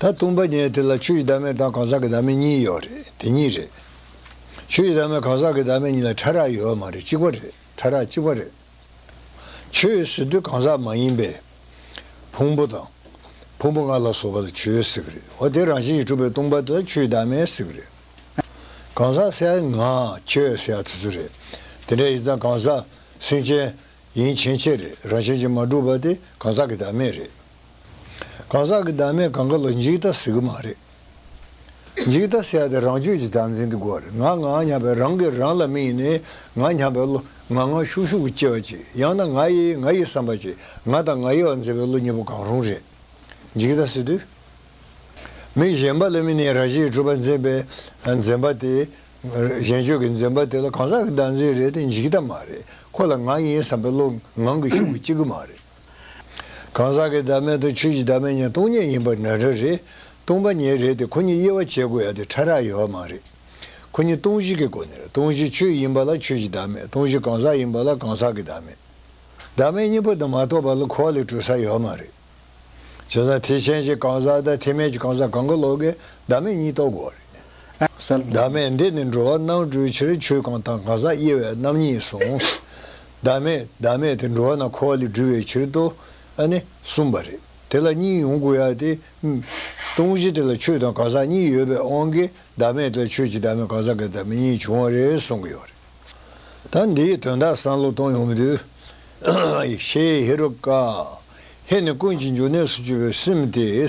ད་དུང་པ་ཉལ་དེ་ལ་ཆུ་ཡི་ཟླ་མེད་དང་གང་ཟག་གི་ཟླ་མེད་གཉིས་ཡོད་རེད་དེ་གཉིས་རེད། ཆུ་ཡི་ཟླ་མེད་གང་ཟག་གི་ཟླ་མེད་གཉིས་ལ་ཕྲ་རགས་ཡོད་མ་རེད་གཅིག་པ་རེད་ཕྲ་རགས་གཅིག་པ་རེད། ཆུ་ཡོད་ཟེར་དུས་གང་ཟག་མ་ཡིན་པས། ཕུང་པོ་དང། ཕུང་པོ་ལྔ་ལ་སོགས་པ་ལ་ཆུ་ཡོད་ཟེར་གི་རེད་འོ་དེ་རང་བཞིན་གྱིས་གྲུབ་པའི་སྟོང་པ་དེ་ལ་ཆུ་ཡི་ཟླ་མེད་ཟེར་གི་རེད། གང་ཟག་སེ་ཨ་ང་ཁྱོད་སེ་ཨ་དེ་ཚོ་རེད། དེ་འདྲ་ཡིན་ཙང་གང་ཟག། སེམས་ཅན། ཡིན་ཕྱིན་ཆད་རེད་རང་བཞིན་གྱིས་མ་གྲུབ་པ་དེ་གང་ཟག་གི་ཟླ་མེད་རེད། གང་ཟག་གི་བདག་མེད་གང་ག་ལ་འཇིག་ལྟ་ཟེར་གི་མ་རེད། འཇིག་ལྟ་ཟེར་ཡ་དེ་རང་སྤྱོད་ཀྱི་བདག་འཛིན་གྱི་སྒོ་རེད་ང་ང་སྙམ་པའི་རང་གིས་རང་ལ་མིག་ནས་ང་སྙམ་པའི་བློ་ང་ང་ཤུགས་ཤུགས་ཀྱི་སྐྱེ་བ་གཅིག་ཡང་ན་ང་ཡི་ང་ཡི་བསམ་པ་གཅིག་ང་དང་ང་ཡི་བར་འཛིན་པའི་བློ་གཉིས་པོ་གང་རུང་རེད། འཇིག་ལྟ་ཟེར་དུས། མི་གཞན་པ་ལ་མི་ནས་རང་བཞིན་གྲུབ་པ་འཛིན་པའི་འཛིན་པ་དེ། གཞན་སྤྱོད་ཀྱི་འཛིན་པ་དེ་ལ་གང་ཟག་གི་བདག་འཛིན་རེད་དེ་འཇིག་ལྟ་མ་རེད་ཁོ་ལ་ང་ཡིན་བསམ་པའི་བློ་ངང་གིས་ཤུགས་ཀྱིས་སྐྱེ་གི་མ་རེད། གང་ཟག་གི་བདག་མེད་དང་ཆོས་ཀྱི་བདག་མེད་གཉིས་སྟོང་ཉིད་ཡིན་པར་ན་རེ་རེད། སྟོང་པ་ཉིད་རེད་དེ་ཁོ་གཉིས་དབྱེ་བ་འབྱེད་དགོས་ཡ་དེ་ཕྲ་རགས་ཡོད་བ་མ་རེད། ཁོ་གཉིས་སྟོང་གཞི་གི་སྒོ་ནས་སྟོང་གཞི་ཆོས་ཡིན་པ་ལ་ཆོས་ཀྱི་བདག་མེད་སྟོང་གཞི་གང་ཟག་ཡིན་པ་ལ་གང་ཟག་གི་བདག་མེད། བདག་མེད་གཉིས་པོ་དེ་མ་རྟོགས་པ་ལ་འཁོར་བ་ལས་གྲོལ་ས་ཡོད་མ་རེད། བྱས་ཙང་ཐེག་ཆེན་གྱི་གང་ཟག་དང་ཐེག་དམན་གྱི་གང་ཟག་གང་གི་བློ་ཀའི་བདག་མེད་གཉིས་རྟོགས་དགོས་བ་རེད། བདག་མེད་འདི་ནི་འགྲོ་བ་རྣམས་སྤྲོས་ཕྱིར་ཆོས་གང་དང་གང་ཟག་དབྱེ་བའི་རྣམ་གཉིས་གསུངས། བདག་མེད་བདག་མེད་དེ་འགྲོ་བ་ན་འཁོར་བ་ལས་སྒྲོལ་བའི་ཕྱིར་དུ་ཨ་ནི་གསུངས་པ་རེད། དེ་ལ་གཉིས་ཡོང་དགོས་ཡ་དེ། ཏུང་བཞི་དེ་ལ་ཆོས་དང་གང་ཟག་གཉིས་ཡོད་པའི་དབང་གིས་བདག་མེད་དེ་ལ་ཆོས་ཀྱི་བདག་མེད་གང་ཟག་གི་བདག་མེད་གཉིས་བྱུང་བ་རེད་གསུངས་ཀྱི་ཡོད་རེད། ད་འདིའི་དོན་དག་བསམ་བློ་གཏོང་ཡོང་མི་འདོད། ཤེས་ཧེ་རུ་ཀ། ཧེ་ནི་ཀུན་གྱི་འབྱུང་གནས་སུ་སྤྱོད་པའི་སེམས་ཏེ།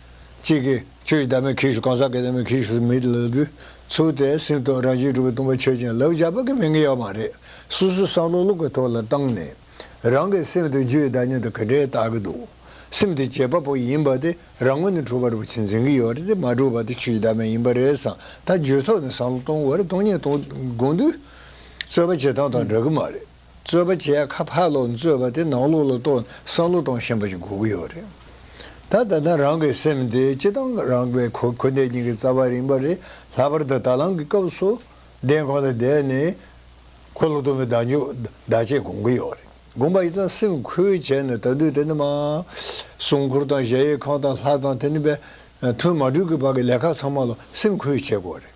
ཅིག་གིས། ཆོས་ཀྱི་བདག་མེད་གྱིས་ཤིག་གང་ཟག་གི་བདག་མེད་གྱིས་ཤིག་མེད་ལ་དུས་ཚོད་དེ་སེམས་དང་རང་བཞིན་གྲུབ་པའི་སྟོང་པ་ཆོས་ཅན་ལབ་བཞག་པ་གི་མི་ངན་ཡོད་མ་རེད་སོ་སོའི་བསམ་བློ་བློ་གི་ཐོག་ལ་བཏང་ནས་རང་གི་སེམས་དང་རྒྱུའི་བདག་ཉིད་དང་གི་འབྲེལ་བལྟ་གི་འདུག་སེམས་དེ་བྱེད་པ་པོ་ཡིན་པ་དེ་རང་ངོས་ནས་གྲུབ་པར་རུ་ཆེན་འཛིན་གི་ཡོད་རེད་དེ་མ་གྲུབ་པ་དེ་ཆོས་ཀྱི་བདག་མེད་ཡིན་པ་རེད་བསམ་ད་རྒྱུའི་ཐོག་ནས་བསམ་བློ་གཏོང་དགོས་རེད་སྟོང་ཉིད་སྟོང་དགོངས་འདུས་རྩོད་པ་བྱེད་སྟངས་དང་འདྲ་གི་མ་རེད། རྩོད་པ་བྱས་ཁ་ཕག་ལོག་རྩོད་པ་དེ་ནང་ལོག་ལ་གཏོགས་ནས་སང་ལོ་གཏོང་ཞེན་པ་ཞིག་དགོས་ཀྱི་ཡོད་རེད། ད་ད་ནི་རང་གི་སེམས་དེ་སྤྱི་བཏང་རང་གི་གོ་གོ་འདས་ཉིན་གྱི་རྩ་བ་རིང་པ་རེད་ལྷག་པར་དུ་ད་ལམ་གྱི་སྐབས་སུ་བདེན་ཁོ་ན་བསྡད་ནས་ཁོ་ལོག་སྟོན་པའི་བདག་འཇུག་བདག་གཅེས་དགོངས་ཀྱི་ཡོད་རེད་དགོངས་པ་ཡི་ཙང་སེམས་ཁུལ་བྱས་ནས་ད་དུས་དེ་ནི་མ་སྲུང་འཁོར་དང་གཞལ་ཡས་ཁང་དང་ལྷ་ཚང་དེ་ནི་པའི་ཐུན་མ་དྲུག་གི་བར་གྱི་ལས་ཁག་ཚང་མ་ལ་སེམས་ཁུལ་བྱེད་དགོས་རེད།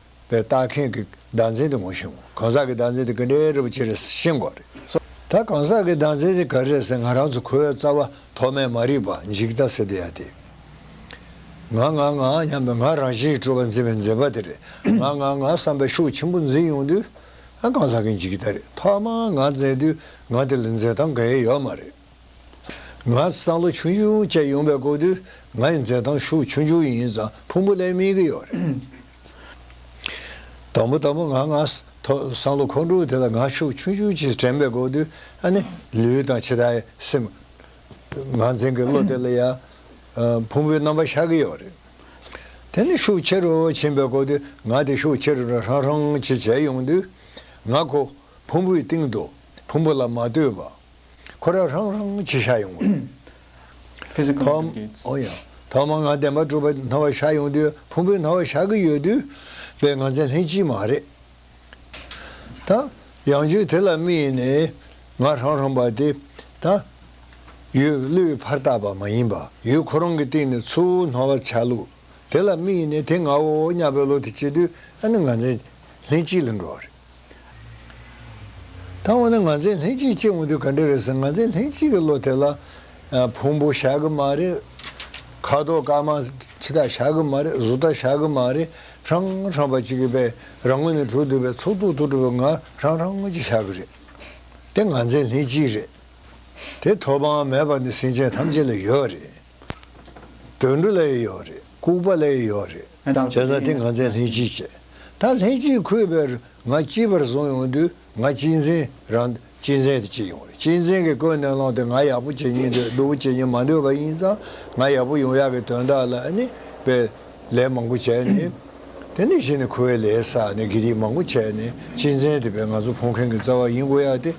པའི་ལྟ་མཁན་གྱི་ཟླ་མཚན་དེ་ངོ་ཤེས་ངོ། གང་ཟག་གི་ཟླ་མཚན་དེ་ག་འདྲའི་རིལ་བོ་ཅི་རེད་ཤེས་དགོས་རེད། ད་གང་ཟག་གི་ཟླ་མཚན་དེ་ག་རེད་ཟེར་ང་རང་ཚོ་ཁོའི་རྩ་བ་ཐོག་མའི་མ་རིག་པ་འཇིག་ལྟ་ཟེར་དེ་ཡ་དེ། ང་ང་ང་སྙམ་པའི་ང་རང་བཞིན་གྱི་སྤྲོ་བ་འཛིན་པའི་འཛིན་པ་དེ་རེད། ང་ང་ང་བསམ་པའི་ཤུགས་ཆེན་པོ་འཛིན་ཡོང་དུས། གང་ཟག་གི་འཇིག་ལྟ་རེད་ཐོག་མར་ང་འཛིན་དུས་ང་དེ་ལ་འཛིན་སྟངས་ག་ཡེ་ཡོད་མ་རེད། ང་སང་ལོ་ཆུང་ཆུང་བཅས་ཡོང་པའི་དགོངས་དུས་ང་ཡི་མཛེས་ཐང་ཤུགས་ཆུང་ཆུང་ཡིན་ཙང་ཕུང་པོ་ལས་སྨིན་གྱི་ཡོད་རེད། དང་པོ་དང་པོ་ང་ང་སང་ལོ་ཁོང་ཁྲོ་དེ་ལ་ང་ཤུགས་ཆུང་ཆུང་བཅས་དྲན་པའི་དགོངས་དུས་ཨ་ནི་ལུས་དང་ཕྱི་དང་སེམས། ང་འཛིན་གྱི་བློ་དེ་ལ་ཡང་ཕུང་པོའི་རྣམ་པ་ཤར་གྱི་ཡོད་རེད། དེ་ནི་ཤུགས་ཆེ་རུ་ཕྱིན་པའི་དགོངས་དུས་ང་དེ་ཤུགས་ཆེ་རུ་རང་ཧྲང་ཧྲང་བྱེད་བྱས་ཡོང་དུས་ང་ཁོ་ཕུང་པོའི་སྟེང་དུ་ཕུང་པོ་ལ་མ་ལྟོས་པ། ཁོ་ར་ཧྲང་ཧྲང་བྱེད་ཤ་ཡོང་དུས། ཐོག་མར་ང་བདེན་པ་གྲུབ་པ་ན་བ་ཤ་ཡོང་དུས་ཕུང་པོའི་ན་བ་ཤ་གི་ཡོད་དུས་པའི་ང་ཚན་ལྷན་ཅིག་མ་རེད། ད། ཡང་བརྗོད་དེ་ལ་དམིགས་ནས་ང་ཧྲང་ཧྲང་པ་དེ། ད། ཡུལ་བློའི་ཕར་བཏགས་པ་མ་ཡིན་པ་ཡུལ་ཁོ་རང་གི་སྟེང་ནས་ཚུར་སྣང་བ་ཆ་ལུགས་དེ་ལ་དམིགས་ནས་དེ་ང་བོ་ཉག་བོའི་བློ་དེ་བསྐྱེད་དུས་ཨ་ནི་ང་ཚན་ལྷན་ཅིག་ལ་འགྲོ་བ་རེད། ད་འོ་ན་ང་ཚའི་ལྷན་སྐྱེས་སྐྱེ་འོང་དུས་ག་འདྲ་རེད་ཟེར་ང་ཚའི་ལྷན་སྐྱེས་ཀྱི་བློ་དེ་ལ། ཕུང་པོ་བཞག་གི་མ་རེད། ཁ་དོག་དཀར་དམར་ཕྱི་རྟགས་བཞག་གི་མ་རེད་གཟུགས་རྟགས་བཞག་གི་མ་རེད་རང་རང་བ་གཅིག་གི་པའི་རང་ངོ་ནས་གྲུབ་འདུག་པའི་ཚོགས་དུག་ཐུག་གྲུབ་པའི་ང་རང་རང་ངོ་གཅིག་བཞག་གི་རེད། དེ་ང་ཚའི་ལྷན་སྐྱེས་རེད། དེ་ཐོབ་དབང་མེད་པ་ནི་སེམས་ཅན་ཐམས་ཅད་ལ་ཡོད་རེད། དུད་འགྲོ་ལས་ཡོད་རེད་ལྐུགས་པ་ལས་ཡོད་རེད་བྱས་ཙང་དེ་ང་ཚས་ལྷན་སྐྱེས་བྱས་ད་ལྷན་སྐྱེས་ཁོས་བལ་རུ་ང་སྐྱིད་པར་བཟུང་ཡོང་དུས་ང་སྐྱིད་མཚན་རང་སྐྱིད་མཚན་དུ་སྐྱིད་ཡོང་རེད་སྐྱིད་མཚན་གྱི་ཀོས་ནན་ལོང་དེ་ང་ཡག་པོ་བྱེད་ཉེན་འདོད་སྡུག་པོ་བྱེད་ཉེན་མ་འདོད་པ་ཡིན་ཙང་ང་ཡག་པོ་ཡོང་ཡག་གི་དོན་དག་ལ་ནི་བལ་ལས་མང་པོ་བྱས་ནས་དེ་ནས་གཞི་ནས་ཁོའི་ལས་ས་ནས་དགེ་སྡིག་མང་པོ་བྱས་ནས་སྐྱིད་མཚན་དེ་བལ་ང་ཚོ་ཕོངས་མཁན་གྱི་རྩ་བ་ཡིན་དགོས་ཡག་དེ་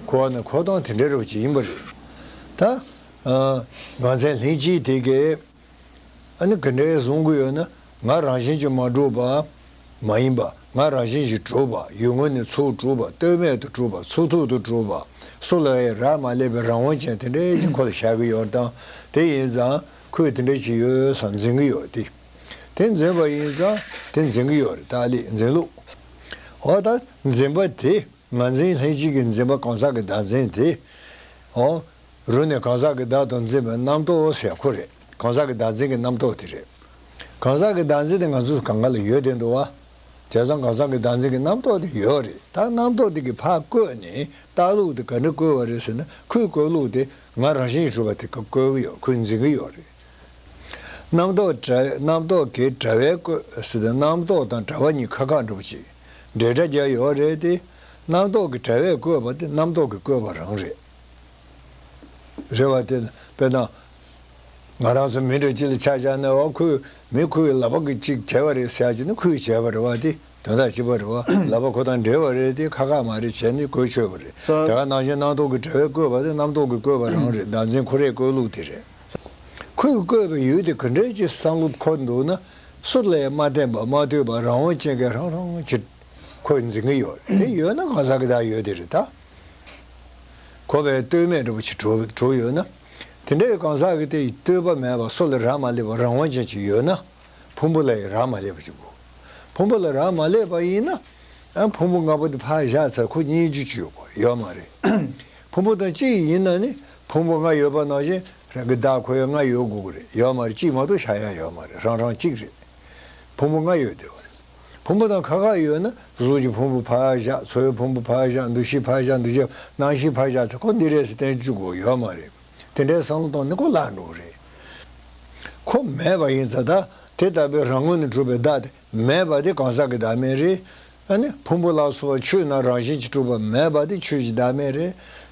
ཁོ་བ་ན་ཁོ་དང་དེ་འདྲ་རེ་བ་ཅིག་ཡིན་པ་རེད་ད། ང་ཚན་ལྷིང་སྐྱིད་དེ་གས། ཨ་ནི་གི་འདྲའི་བཟུང་གི་ཡོད་ན་ང་རང་བཞིན་གྱི་མ་གྲུབ་པ། མ་ཡིན་པ་ང་རང་བཞིན་གྱི་གྲུབ་པ་ཡུལ་དངོས་ནས་ཚུགས་གྲུབ་པ་བསྟོད་སྨད་དུ་གྲུབ་པ་ཚུགས་ཐུག་ཏུ་གྲུབ་པ་སུ་ལ་ཡི་རག་མ་སླེབས་པའི་རང་དབང་ཅན་དེ་འདྲའི་གཅིག་ཁོ་ལ་བྱ་གི་ཡོད་སྟངས་དེ་ཡིན་ཙང་ཁོས་དེ་འདྲ་ཅི་ཡོད་བསམ་འཛིན་གི་ཡོད་དེ། དེ་འཛིན་པ་ཡིན་ཙང་དེ་འཛིན་གི་ཡོད་རེད་ཏཱ་ལས་འཛིན་ལུགས། འོ་ད་འཛིན་པ་དེ་ང་ཚན་ལྷིང་སྐྱིད་ཀྱི་འཛིན་པ་གང་ཟག་གི་བདག་འཛིན་དེ། འོ། རུ་ནི་གང་ཟག་གི་བདག་ཏུ་འཛིན་པའི་རྣམ་རྟོག་ཟེར་ཁོ་རེད་གང་ཟག་གི་བདག་འཛིན་གྱི་རྣམ་རྟོག་དེ་རེད། གང་ཟག་གི་བདག་འཛིན་དེ་ང་ཚོ་སུ་གང་ག་ལ་ཡོད་དེ་འདུག་བ། བྱས་ཙང་གང་ཟག་གི་བདག་འཛིན་གྱི་རྣམ་རྟོག་དེ་ཡོད་རེད་ད་རྣམ་རྟོག་དེ་གི་ཕ་བཀོད་ནས་ལྟ་ལུགས་དེ་ག་འདྲ་བཀོད་བ་རེད་ཟེར་ན་ཁོས་བཀོད་ལུགས་དེ་ང་རང་བཞིན་གྱི་གྲུབ་པ་དེ་ག་བཀོད་གི་ཡོད་ཁོས་འཛིན་གི་ཡོད་རེད། རྣམ་རྟོག་གྲ་རྣམ་རྟོག་གི་གྲ་བས་བཀོད་ཟེར་དུས་རྣམ་རྟོག་དང་གྲ་བ་གཉིས་ཁ་ཁ་འགྲོ་བ་ཅིག་འབྲེལ་སྒྲ་རྒྱག་ཡོད་རེད་དེ། རྣམ་རྟོག་གི་གྲ་བས་བཀོད་པ་དེ་རྣམ་རྟོག་གི་བཀོད་པ་རང་རེད། རེ་བ་དེ་དཔེར་ན། ང་རང་ཚོ་མི་འདྲ་ཅི་ལ་ཆ་བཞག་ནས་འོ་ཁུལ་མི་ཁུལ་གྱི་ལག་པ་གི་ཅིག་བྱས་པ་རེད་ཟེར་ཡག་བྱས་ནས་ཁུལ་བྱས་པ་རེད་བ་དེ་དོན་དག་ཅིག་པ་རེད་བ་ལག་པ་ཁོ་དང་འབྲེལ་བ་རེད་དེ་ཁ་ཁ་མ་རེད་བྱས་ནས་བཀོལ་ཆོས་པ་རེད་དེ་ག་ནང་བཞིན་སྣང་སྟོང་གི་བྲལ་བས་བཀོལ་བ་དེ་རྣམ་སྟོང་གི་བཀོལ་བ་རང་རེད་བདག་འཛིན་ཁོ་རེའི་བཀོལ་ལུགས་དེ་རེད། ཁུལ་གྱི་བཀོལ་བའི་ཡུལ་དེ་ག་འདྲའི་ཅི་བསམ་བློ་འཁོར་འདུག་ན་སུ་ལས་མ་བསྟན་པ་མ་ཐོས་པ་རང་དབང་ཅན་གྱི་རང་རང་ཅི། ཁོས་འཛིན་གྱི་ཡོད་རེད་དེ་ཡོད་ན་གང་ཟག་གི་དག་ཡོད་དེ་རེད་ད། འཁོར་བའི་བསྟོད་སྨད་སྒྲུབ་བྱེད་དྲུག་ཡོད་ན། དེ་འདྲའི་གང་ཟག་གི་དེ་ཡི་བསྟོད་པ་མེད་པར་སྲོག་ལ་རག་མ་ལས་པ་རང་དབང་ཅན་གཅིག་ཡོད་ན། ཕུང་པོ་ལ་ཡང་རག་མ་ལས་པ་གཅིག་གོ། ཕུང་པོ་ལ་རག་མ་ལས་པ་ཡིན་ན། ཕུང་པོ་ལྔ་པོ་དེ་ཕག་བཞག་ཚར་ཁུ་གཉིས་བཅུ་གཅིག་ཡོད་དགོ་ཡོད་མ་རེད། ཕུང་པོ་དང་གཅིག་ཡིན་ན་ནི་ཕུང་པོ་ལྔ་ཡོད་པ་ནང་བཞིན་རང་གི་བདག་ཁོ་ཡང་ལྔ་ཡོད་དགོ་གི་རེད་ཡོད་མ་རེད་གཅིག་མ་གཏོགས་ཆ་ཡང་ཡོད་མ་རེད་རང་རང་གཅིག་རེད། ཕུང་པོ་ལྔ་ཡོད་བདེ་བ་རེད། ཕུང་པོ་དང་ཁ་ཁ་ཡོད་ན་གཟུགས་ཀྱི་ཕུང་པོ་བྷ་ཡ་བཞག་ཚོའི་ཕུང་པོ་བྷ་ཡ་བཞག་འདུ་ཤེས་བྷ་ཡ་བཞག་འདུ་བྱེད་སྣང་བཞི་བྷ་བཞག་ཚེ་ཁོ་འདི་རེད་ཟེར་བསྟན་བཅོས་དགོས་ཡོད་མ་རེད། དེ་འདྲའི་བསམ་བློ་གཏོང་ནི་གོ་སླ་འགྲོ་རེད། ཁོ་མེད་པ་ཡིན་ཚ་ད་དེ་ལྟ་བུའི་རང་ངོས་ནས་གྲུབ་པའི་བདག་དེ་མེད་པ་དེ་གང་ཟག་གི་བདག་མེད་རེད། ཕུང་པོ་ལ་སོགས་ཆོས་རྣམས་རང་བཞིན་གྱིས་གྲུབ་པ་མེད་པ་དེ་ཆོས་ཀྱི་བདག་མེད་རེད།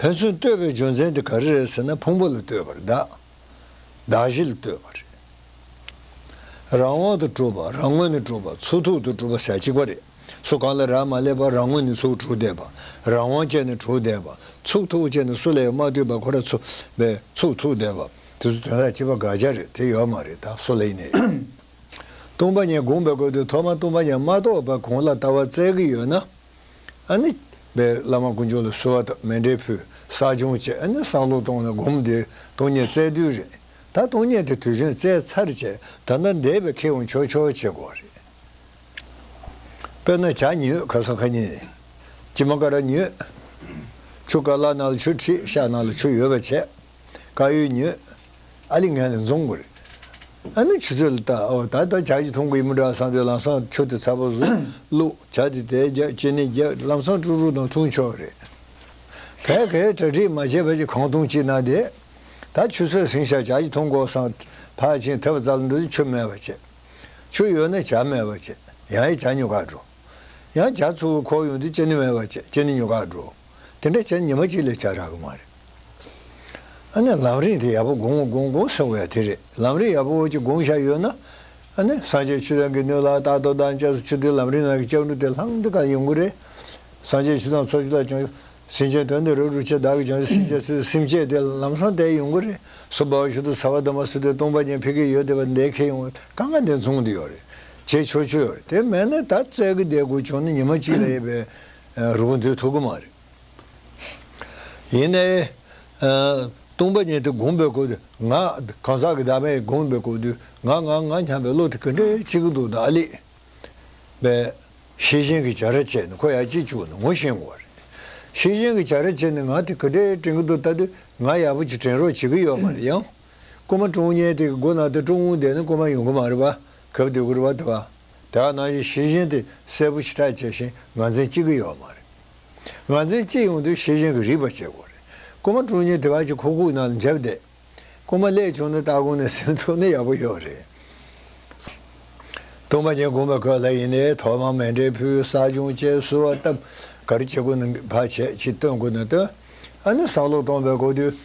ཕན་ཚུན་བསྟོད་པའི་རྒྱུ་མཚན་དེ་ག་རེ་རེད་ཟེར་ན་ཕུང་པོ་ལ་བསྟོད་པར་གདའ། བདག་བཞི་ལ་བསྟོད་པ་རེད། རང་འོག་ཏུ་གྲུབ་པ་རང་ངོས་ནས་གྲུབ་པ་ཚུར་ཐུག་ཏུ་གྲུབ་པ་ཟད་གཅིག་པ་རེད། སུ་གང་ལ་རག་མ་སླེབས་པར་རང་ངོས་ནས་ཚུར་གྲུབ་བསྡད་པ། རང་དབང་སྤྱད་ནས་གྲུབ་བསྡད་པ། ཚུགས་ཐུག་སྤྱད་ནས་སུ་ལ་ཡང་མ་ལྟོས་པར་ཁོ་ར་ཚུགས་པས་ཚུགས་ཐུག་བསྡད་པ། དེ་ཚོ་དོན་ལ་སྤྱི་པ་དགག་བྱ་རེད་དེ་ཡོད་མ་རེད་ད་སུ་ལ་ཡིན་ནའི། ལྟུང་བ་ཉེས་དགོངས་པའི་སྐོར་དུ་ཐོག་མ་ལྟུང་བ་ཉེས་མ་གཏོགས་པ་གང་ལ་ལྟ་བ་བཙལ་གི་ཡོད་ན། ཨ་ནི། པའི་བླ་མ་དཀོན་མཆོག་ལ་གསོལ་བ་དང་མེ་འབྲས་ཕུལ། བསགས་སྦྱོང་བྱས་ཨ་ནི་སང་ལོ་སྟོང་ནས་སྒོམ་འདིའི་སྟོང་ཉིད་བཙལ་དུས་རེད། ད་སྟོང་ཉིད་དེ་དུས་ཆེན་བཙལ་ཚར་རྗེས་ད་ལྟ་འདས་པའི་ཁེ་དབང་ཆོས་ཕྱོགས་བྱེད་དགོས་རེད། དཔེར་ན་བྱ་ཉི་འོད་ཁ་སང་ཁ་ཉིན། ཅི་མ་ཀ་ར་ཉི་འོད། ཆུ་ཀ་ལ་ནག་ལ་ཆུ་ཁྲི་ཤ་ནག་ལ་ཆུ་ཡོལ་བ་བྱས། ཀ་ཡོལ་ཉི་འོད། ཨ་ལི་ངན་ལ་འཛོམས་དགོས་རེད། ཨ་ནུ་ཆུ་ཚོད་ལ་ལྟ་ཨོ་ད་ལྟ་བྱ་ཞིག་འཐུང་གི་ཡིན་མོད་བྲག་སྲང་དེ་ལམ་སྲང་ཆུ་དེ་ཚ་པོ་བཟོས་བླུགས་བྱ་དེ་དེ་རྒྱག་ཅེ་ནེ་རྒྱག་ལམ་སྲང་དཀྲུག་དཀྲུག་དང་འཐུང་ཆོག་རེད། བད་གའི་གྲ་སྒྲིག་མ་བྱས་བད་ཀྱི་གང་འཐུང་ཅི་གནང་དེ། ད་ཆུ་ཚོད་ཟིང་ཤག་བྱ་ཞིག་འཐུང་གོ་སྲང་ཕག་ཆེན་དེ་བ་ཙ་ལ་འགྲོ་དུས་ཆུ་མེད་པ་བྱེད། ཆུ་ཡོད་ན་བྱ་མེད་པ་བྱེད་ཡང་ཡི་བྱ་ཉོ་ག་འགྲོ། ཡང་བྱ་ཚུར་བུར་ཁོག་ཡོང་དུས་ཅེ་ནེ་མེད་པ་བྱེད་ཅེ་ནེ་ཉོ་ག་འགྲོ། དེ་འདྲ་བྱས་ཉི་མ་གཅིག་ལས་བྱ་རག་གི་མ་རེད། ཨ་ནི་ལམ་རིང་དེ་ཡག་པོ་དགོང་མོ་དགོང་དགོང་ཟེར་བ་ཡང་དེ་རེད་ལམ་རིང་ཡག་པོ་འོག་ཅིག་དགོང་བཞག་ཡོད་ན། ཨ་ནི་སངས་རྒྱས་ཆུ་ཐང་གི་སྣོད་ལ་རྟག་ཏུ་འདང་བཅས་སུ་ཆུ་དེའི་ལམ་རིང་ནང་གི་ལྕགས་འབྲུ་དེ་ལྷང་འདྲི་གང་ཡོང་གི་རེད། སངས་རྒྱས་ཆུ་ཐང་ཚོགས་ཆུ་ལ་ཅུང་སེམས་ཅན་དོན་དེ་རུ་རུ་ཆེ་བདག་གི་ཅུང་སེམས་ཅན་ཚོའི་སེམས་བསྐྱེད་དེ་ལམ་སང་བསྟན་ཡོང་གི་རེད་སུ་འབའ་བ་ཞུ་དུ་ཚ་བ་དུ་མ་སུ་དེ་སྟོང་པ་ཉན་ཕེ་གི་ཡོད་དེ་བ་འདས་ཁེ་ཡོང་ག་ག་འདི་མཚུངས་དེ་ཡོད་རེད་ཅེས་ཆོས་ཆོས་ཡོད་རེད་དེ་མེད་ན་ད་བཙལ་གི་བསྡད་དགོས་བྱུང་ན་ཉི་མ་གཅིག་ལས་ཡས་པའི། རུ་གུ་འདིར་ཐུག་གི་མ་རེད། ཡིན་ནའི། སྟོང་པ་ཉིད་དེ་བསྒོམ་པའི་སྐོར་དུ་ང། གང་ཟག་གི་བདག་མེད་བསྒོམ་པའི་སྐོར་དུ་ང་ང་ང་སྙམ་པའི་བློ་དེ་ག་འདྲའི་གཅིག་གི་འདུག་ན་ཨ་ལེས། པའི། ཤེས་བཞིན་གྱི་བྱ་ར་བཅད་ནས་ཁོ་ཡར་སྐྱེས་བཅུག་ནས་ངོ་ཤེས་འགོ་རེད། ཤེས་བཞིན་གྱི་བྱ་ར་བཅད་ནས་ང་དེ་ག་འདྲའི་དྲན་གི་འདུག་ད་དུས་ང་ཡག་པོ་ཅིག་དྲན་རོགས་བྱེད་ཀི་ཡོད་མ་རེད་ཡང། རྐུན་མ་ཀྲོང་ཉལ་དེ་གི་སྒོ་ནང་དུ་ཀྲོང་ངུ་བསྡད་ནས་རྐུན་མ་ཡོང་གི་མ་རེད་པ་གབ་སྡོད་ཀི་རེད་པ་དེ་བ། དེའང་ནང་བཞིན་ཤེས་བཞིན་དེ་གསལ་པོ་ཕྱི་དག་བྱས་ཤིང་ངར་འཛིན་ཅི་གི་ཡོད་མ་རེད། ངར་འཛིན་ཅི་ཡོང་དུས་ཤེས་བཞིན་གྱི་རིག་པ་བྱེད་དགོས་རེད། རྐུན་མ་དྲུང་ཉེ་དེ་བར་གྱི་ཁོག་ཁུག་ནང་ལ་འཇབ་བསྡད། རྐུན་མ་ལས་བྱུང་ན་སྟ་གོན་ནས་སེམས་ཚོར་ནི་ཡག་པོ་ཡོད་རེད། སྟོང་པ་ཉིད་དགོངས་པའི་གོ་ལ་ཡིན་ནའི་ཐོག་མར་མེ་འབྲས་བུའི་བསགས་སྦྱོང་བཅས་གསོལ་བ་བཏབ། གར་བྱེད་དགོས་ན་བར་ཆད་ཅིག་བཏོན་དགོས་ན་བཏོན། ཨ་ནི་བསགས་ལོག་སྟོང་པའི་གོ་དུས།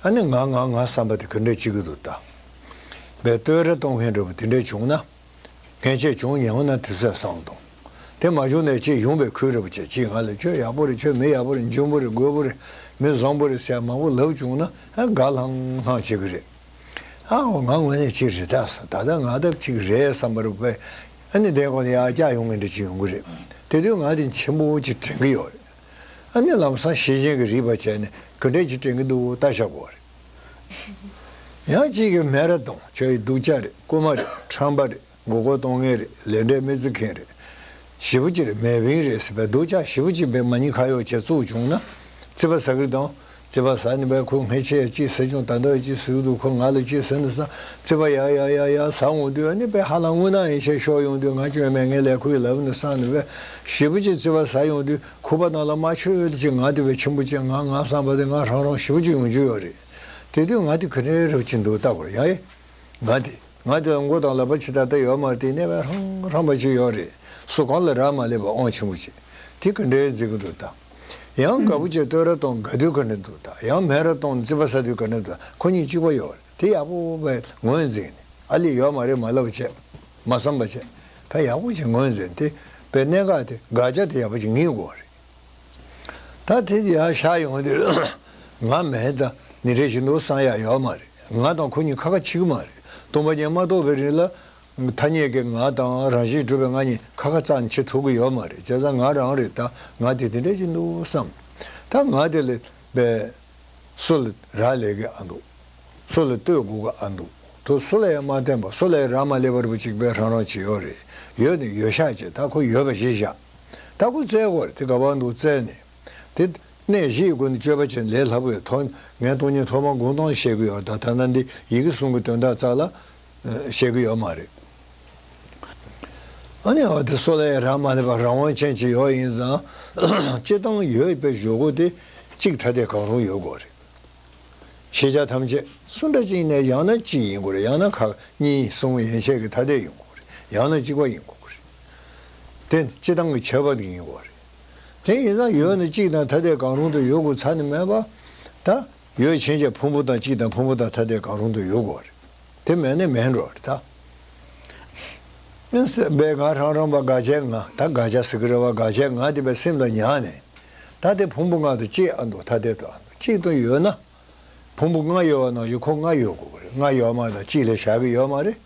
ཨ་ནི་ང་ང་ང་བསམ་པ་དེ་ག་འདྲ་བྱེད་ཀྱི་འདུག་ད། བའི་བསྟོད་ར་གཏོང་མཁན་འདྲ་པོ་དེ་འདྲ་བྱུང་ན། ངས་ཁྱེད་བྱུང་ཉལ་ན་དུས་ཚོད་བཟང་འདུག་དེ་མ་བྱུང་ནས་ཁྱེད་ཡོང་པའི་ཁུལ་རེད་པོ་ཁྱེད་ཀྱིས་ང་ལ་ཁྱོད་ཡག་པོ་རེད་ཁྱོད་མི་ཡག་པོ་རེད་འཇོན་པོ་རེད་རྒོད་པོ་རེད་མི་བཟང་པོ་རེད་ཟེར་མང་པོ་ལབ་བྱུང་ན་དགའ་ལྷང་ལྷང་བྱེད་ཀྱི་རེད། ཨ་ཨོ་ང་དངོས་གནས་ཁྱེད་རེད་དྭ་ད་ལྟ་ང་ལྟ་ཅིག་རེད་བསམ་པར་དཔེ་ཨ་ནི་དེའི་གོང་ནས་ཡར་བཀྱག་ཡོང་ངེས་འདྲ་ཅིག་ཡོང་གི་རེད་དེ་དུས་ང་དེ་མཆན་བུ་གཅིག་དྲན་གྱི་ཡོད་རེད་ཨ་ནི་ལམ་སང་ཤེས་བྱེད་ཀྱི་རིགས་པ་བྱས་ནས་གུས་འབྲས་ཅིག་དྲན་གྱི་འདུག་ལྟ་བཞག་གོ་རེད། ཡང་གཅིག་གིས་སྨན་ར་དང་བྱ་ཡི་གདུགས་ཅག་རེད་རྐུ་མ་རེད་ཁྲམ་པ་རེད་མགོ་སྐོར་གཏོང་མཁན་རེད་ལས་འབྲས་མི་བརྩི་མཁན་རེད། བཞི་པོ་གཅིག་རེད་མེ་དབིངས་རེད་ཟེར་པའི་གདུགས་ཅག་བཞི་པོ་གཅིག་པའི་མ་ཉེས་ཁ་གཡོག་བྱེད་བཙུགས་བྱུང་ན། བརྩི་བ་ཟ་གི་དང། བརྩི་བ་ཟ་ནི་བས་ཁོས་ངས་ཁྱེད་ཡ་ཅིག་ཟེར་བྱུང་ད་ལྟ་ཡ་ཅིག་ཟེར་གི་འདུག་ཁོས་ང་ལ་ཅིག་ཟེར་ནས་བསམ་བརྩི་བ་ཡ་ཡ་ཡ་ཡ་ཟ་འོང་དུས་ཡ་ནི་བས་ཧ་ལམ་དངུལ་ནག་ཡིན་ཤས་ཤོག་ཡོང་དུས་ང་སྐྱོན་མེད་ངས་ལས་ཁུར་ཡིན་ལབ་ནས་བསམ་ནི་བས། བཞི་པོ་གཅིག་བརྩི་བ་ཟ་ཡོང་དུས་ཁོ་པ་ནང་ལ་མ་ཆོད་ཡོད་དུ་ཅིག་ང་དེ་བས་ཆེན་པོ་ཅིག་ང་ང་བསམ་པ་དེ་ང་རང་རང་ཞིག་པོ་ཅིག་ཡོང་རྒྱུ་ཡོད་རེད། དེ་དུས་ང་དེ་ག་རེ་རབ་ཅིག་འདུག་བལྟ་གོ་ཡ་ཡ། ང་དེ་ང་དེ་ལ་མགོ་དང་ལག་པ་ཇི་ལྟར་བཏགས་ཡོད་མ་དེ་གནས་པའི་ཧྲང་ཧྲང་པ་ཅིག་ཡོད་རེད་སོ་གང་ལ་རག་མ་ལས་པ་ཨོང་ཆེན་པོ་ཅིག་དེ་ག་འདྲའི་མཛེས་ཀྱི་འདུག་བལྟ། ཡང་དགའ་པོ་ཅིག་སྟོད་ར་སྟོང་དགའ་དུས་ག་འདྲ་འདུག་བལྟ་ཡང་མེད་ར་སྟོང་བརྩི་བ་ཟ་དུས་ག་འདྲ་འདུག་བལྟ་ཁོ་གཉིས་གཅིག་པ་ཡོད་རེད་དེ་ཡག་པོ་བས་ངོས་འཛིན་ནས་ཨ་ལས་ཡོད་མ་རེད་མ་ལབ་བྱས། མ་བསམ་པ་ཅན་ད་ཡག་པོ་ཅིག་ངོས་འཛིན་དེ་པའི་གནད་འགག་དེ་དགག་བྱ་དེ་ཡག་པོ་ཅིག་ངེས་དགོས་བ་རེད་ད་དེ་ཡག་བཞག་ཡོང་དུས་ང་མེད་ད་ནི་རེ་ཞིག་འདུག་བསམ་ཡག་ཡོད་མ་རེད་ང་དང་ཁོ་གཉིས་ཁ་ཁ་འཆི་གི་མ་རེད་སྟོང་པ་ཉིད་མ་རྟོགས་པའི་རིང་ལ་ཐ་སྙད་ཀྱི་ང་དང་རང་བཞིན་གྲུབ་པའི་ང་གཉིས་ཁ་ཁ་ཙག་འཆི་ཐུབ་གི་ཡོད་མ་རེད་བྱས་ཙང་ང་རང་རེད་ད་ང་དེ་དེ་འདྲ་ཅིག་འདུག་བསམ་ད་ང་དེ་ལས་པའི། སུ་ལ་རག་ལས་ཀྱི་ཨ་འདུག། སུ་ལ་ལྟོས་དགོས་ཀྱི་ཨ་འདུག་དུ་སུ་ལ་ཡང་མ་བསྟན་པར་སུ་ལ་ཡང་རག་མ་ལས་པར་བུ་གཅིག་པའི་རང་རང་ཇི་ཡོད་རེད་ཡོད་ནི་ཡོད་ཤག་ཅེས་ད་ཁོ་ཡོད་པ་བཞི་བཞག་ད་ཁོ་བཙལ་དགོས་རེད་དེ་ག་བར་འདུག་བཙལ་ནས་དེ་གནས་གཞིའི་སྒོ་ནས་སྤྱོད་པ་བྱས་ན་ལས་སླ་པོ་ཡོད་ཐོག་ངས་སྟོང་ཉིད་ཐོག་མར་དགུང་སྟོང་བཤད་ཀྱི་ཡོད་ད་ཐ་ན་འདི་ཡི་གེ་གསུང་གི་དོན་དག་ཙག་ལ་བཤད་གི་ཡོད་མ་རེད། ཨ་ནེ་འོ་དེ་སོགས་ལ་ཡི་རངས་མ་སླེབས་པར་རང་དབང་ཅན་ཅིག་ཡོད་ཡིན་ཙང། སྤྱི་བཏང་ཡོད་པའི་ཞོག་གུ་དེ་གཅིག་ཐ་དད་གང་རུང་ཡོད་དགོས་རེད། ཤེས་བྱ་ཐམས་ཅད་སུ་འདྲ་ཅིག་ནས་ཡང་ན་གཅིག་ཡིན་དགོས་རེད་ཡང་ན་ཁག་གཉིས་གསུམ་ཡན་ཆད་ཀྱི་ཐ་དད་ཡིན་དགོས་རེད་ཡང་ན་གཅིག་པ་ཡིན་དགོས་རེད། དེ་ནི་སྤྱི་བཏང་གི་ཁྱད་པར་དེ་ཡིན་དགོས་རེད། དེ་ཡིན་ཙང་ཡོད་ནི་གཅིག་དང་ཐ་དད་གང་རུང་དུ་ཡོད་དགོས་ཚར་ནི་མེད་པ། ད། ཡོད་ཕྱིན་ཆད་ཕུང་པོ་དང་གཅིག་དང་ཕུང་པོ་དང་ཐ་དད་གང་རུང་དུ་ཡོད་དགོས་པ་རེད། དེ་མེད་ན་མེད་འགྲོ་རེད་ད། ཨིན། སེམས་དཔའི་ངག་རང་རང་བ་དགག་བྱའི་ངག་ད་དགག་བྱ་ཟེར་གི་རེད་བ་དགག་བྱའི་ངག་དེ་བས་སེམས་ལ་ཉག་ནས། ད་དེ་ཕུང་པོ་ལྔ་དང་གཅིག་ཨ་འདུག་ཐ་དད་དུ་ཨ་འདུག་གཅིག་དང་ཡོད་ན། ཕུང་པོ་ལྔ་ཡོད་བ་ནང་བཞིན་ཁོ་ལྔ་ཡོད་དགོས་པ་རེད་ལྔ་ཡོད་མ་དང་གཅིག་ལས་བཞག་གི་ཡོད་མ་རེད།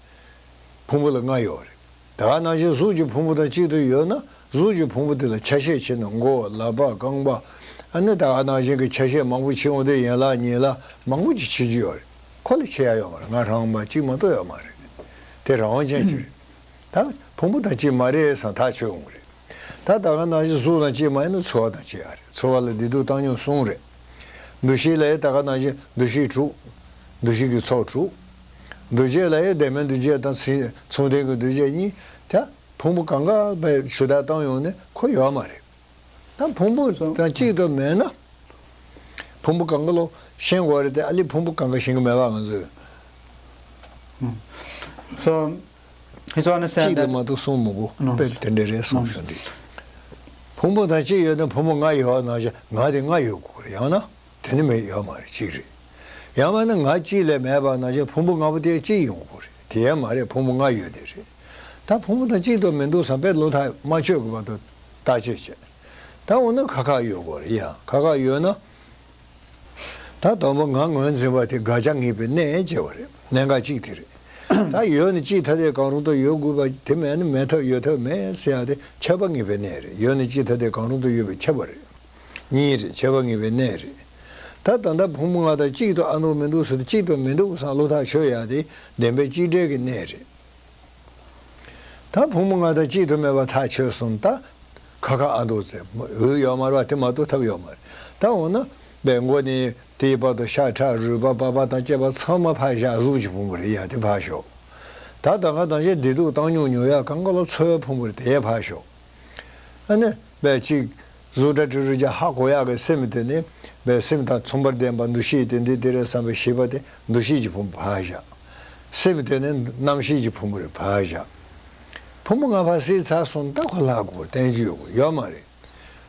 ཕུང་པོ་ལ་ལྔ་ཡོད་རེད། ད་ནང་བཞིན་གཟུགས་ཀྱི་ཕུང་པོ་དང་གཅིག་ཏུ་ཡོད་ན་གཟུགས་ཀྱི་ཕུང་པོ་དེ་ལ་ཆ་ཤས་ཆེ་ན་མགོ་བོ་ལག་པ་རྐང་པ། ནི་ད་ནང་བཞིན་གྱི་ཆ་ཤས་མང་པོ་མཆིས་འོང་དུས་ཡན་ལག་གཉིས་ལ་མང་པོ་ཅིག་མཆིས་ཀྱི་ཡོད་རེད། ཁོ་ལས་ཆེ་ཡག་ཡོད་མ་རེད་ང་རང་མ་གཅིག་མ་གཏོགས་ཡོད་མ་རེད། དེ་རང་དབང་ཅན་ཅིག་རེད། ད། ཕུང་པོ་དང་གཅིག་མ་རེད་བསམ་ཐག་ཆོད་འོང་གི་རེད། ད་ལྟ་གང་ནང་བཞིན་གཟུགས་དང་ལྕེ་མ་ཡིན་ན་ཚོར་བ་དང་ལྕེ་ཡང་རེད་ཚོར་བ་ལ་བདེ་སྡུག་བཏང་སྙོམས་གསུམ་རེད། འདུ་ཤེས་ལ་ཡང་ད་ག་ནང་བཞིན་འདུ་ཤེས་དྲུག། འདུ་ཤེས་ཀྱི་ཚོགས་དྲུག། འདུ་བྱེད་ལ་ཡང་བདེན་མེད་འདུ་བྱེད་དང་མཚུངས་ལྡན་གྱི་འདུ་བྱེད་གཉིས། ད་ཕུང་པོ་གང་གཱ་པའི་ཆུ་ལྟར་བཏང་ཡོང་ནས་ཁོ་ཡོད་མ་རེད། ད་ཕུང་པོ་དང་གཅིག་ཏུ་མེད་ན། ཕུང་པོ་གང་གཱ་ལོ་ཤེས་དགོས་རེད་དེ་ཨ་ལི་ཕུང་པོ་གང་གཱ་ཤེས་ཀྱི་མེད་པ་ང་ཚོས། གཅིག་ལས་མ་གཏོགས་གསུམ་མི་དགོས་དཔེ་དེ་འདྲས་རེད་གསུངས་བྱུང་འདུག་ཕུང་པོ་དང་གཅིག་ཡོད་ན་ཕུང་པོ་ལྔ་ཡོད་བ་ན་ཆ་ང་དེ་ལྔ་ཡོད་དགོས་རེད་ཡང་ན་དེ་ནི་མེད་ཡོད་མ་རེད་གཅིག་རེད་ཡང་མ་ན་ང་གཅིག་ལས་མེད་པ་ན་ཆ་ཕུང་པོ་ལྔ་པོ་དེ་གཅིག་ཡིན་དགོས་རེད་དེ་ཡང་མ་རེད་ཕུང་པོ་ལྔ་ཡོད་དེ་རེད་ད་ཕུང་པོ་དང་གཅིག་འདུག་མི་འདུག་བསམ་པའི་བློ་ཐག་མ་ཆོད་གི་བར་དུ་བརྟག་དཔྱད་བྱེད་ད་འོ་ན་ཁ་ཁ་ཡོད་དགོས་རེད་ཡང་ཁ་ཁ་ཡོད་ན། ད་དང་པོ་ང་ངོས་འཛིན་པ་དེ་དགག་བྱ་ངེས་པའི་གནད་ཅེས་པ་རེད་གནད་འགག་གཅིག་དེ་རེད། ད་ཡོད་ནི་གཅིག་ཐ་དད་གང་རུང་དུ་ཡོད་དགོས་པ་དེ་མེད་ན་མེད་ཐབས་ཡོད་ཐབས་མེད་ཟེར་ཡག་དེ་ཁྱབ་པ་ངེས་པའི་གནད་རེད་ཡོད་ནི་གཅིག་ཐ་དད་གང་རུང་དུ་ཡོད་པའི་ཁྱབ་པ་རེད། གཉིས་རེད་ཁྱབ་པ་ངེས་པའི་གནད་རེད། ད་ད་ལྟ་ཕུང་པོ་ང་དང་གཅིག་ཏུ་ཨ་འདུག་མི་འདུག་ཟེར་ཏེ་གཅིག་ཏུ་མི་འདུག་བསམ་བློ་ཐག་ཆོད་ཡག་དེ་བདེན་པའི་གཅིག་བསྒྲིལ་གྱི་གནད་རེད། ད་བུ་མོ་ང་དང་གཅིག་ཏུ་མེད་པ་ཐག་ཆོད་གསུངས་ད་ཁ་ཁ་ཨ་འདུག་ཟེར་འོས་ཡོག་མར་བ་དེ་མ་གཏོགས་ཐབས་ཡོག་མ་རེད་ད་འོ་ན་པའི་མགོ་ནས་དེའི་བར་དུ་ཤ་ཁྲག་རུས་པ་པགས་པ་དང་སྐྱེས་པ་ཚང་མ་ཕ་ཞག་གཟུགས་ཀྱི་ཕུང་པོ་རེད་ཡ་དེ་ཕར་ཞོག་ད་ད་ཁ་དང་ཞེ་བདེ་སྡུག་བཏང་ཉུང་ཉུང་ཡ་གང་ག་ལ་འཚོལ་བའི་ཕུང་པོ་རེད་དེ་ཡ་ཕར་ཞོག་ཨ་ནི་པའི་གཅིག་གཟུགས་སྒྲ་དྲི་རོ་རྒྱ་ཧ་གོ་ཡག་གི་སེམས་དེ་ནི་བའི་སེམས་དང་མཚུངས་པར་ལྡན་པ་འདུ་ཤེས་དེ་འདི་དེ་རེད་བསམ་པའི་ཤེས་པ་དེ་འདུ་ཤེས་ཀྱི་ཕུང་པོ་བྷ་གཞག། སེམས་དེ་ནི་རྣམ་ཤེས་ཀྱི་ཕུང་པོ་རེད་བྷ་གཞག། ཕུང་པོ་ལྔ་བྷ་སའི་ཚ་གསུམ་རྟགས་གོ་སླ་གོ་བསྟན་རྒྱུ་ཡོད་གོ་ཡོད་མ་རེད།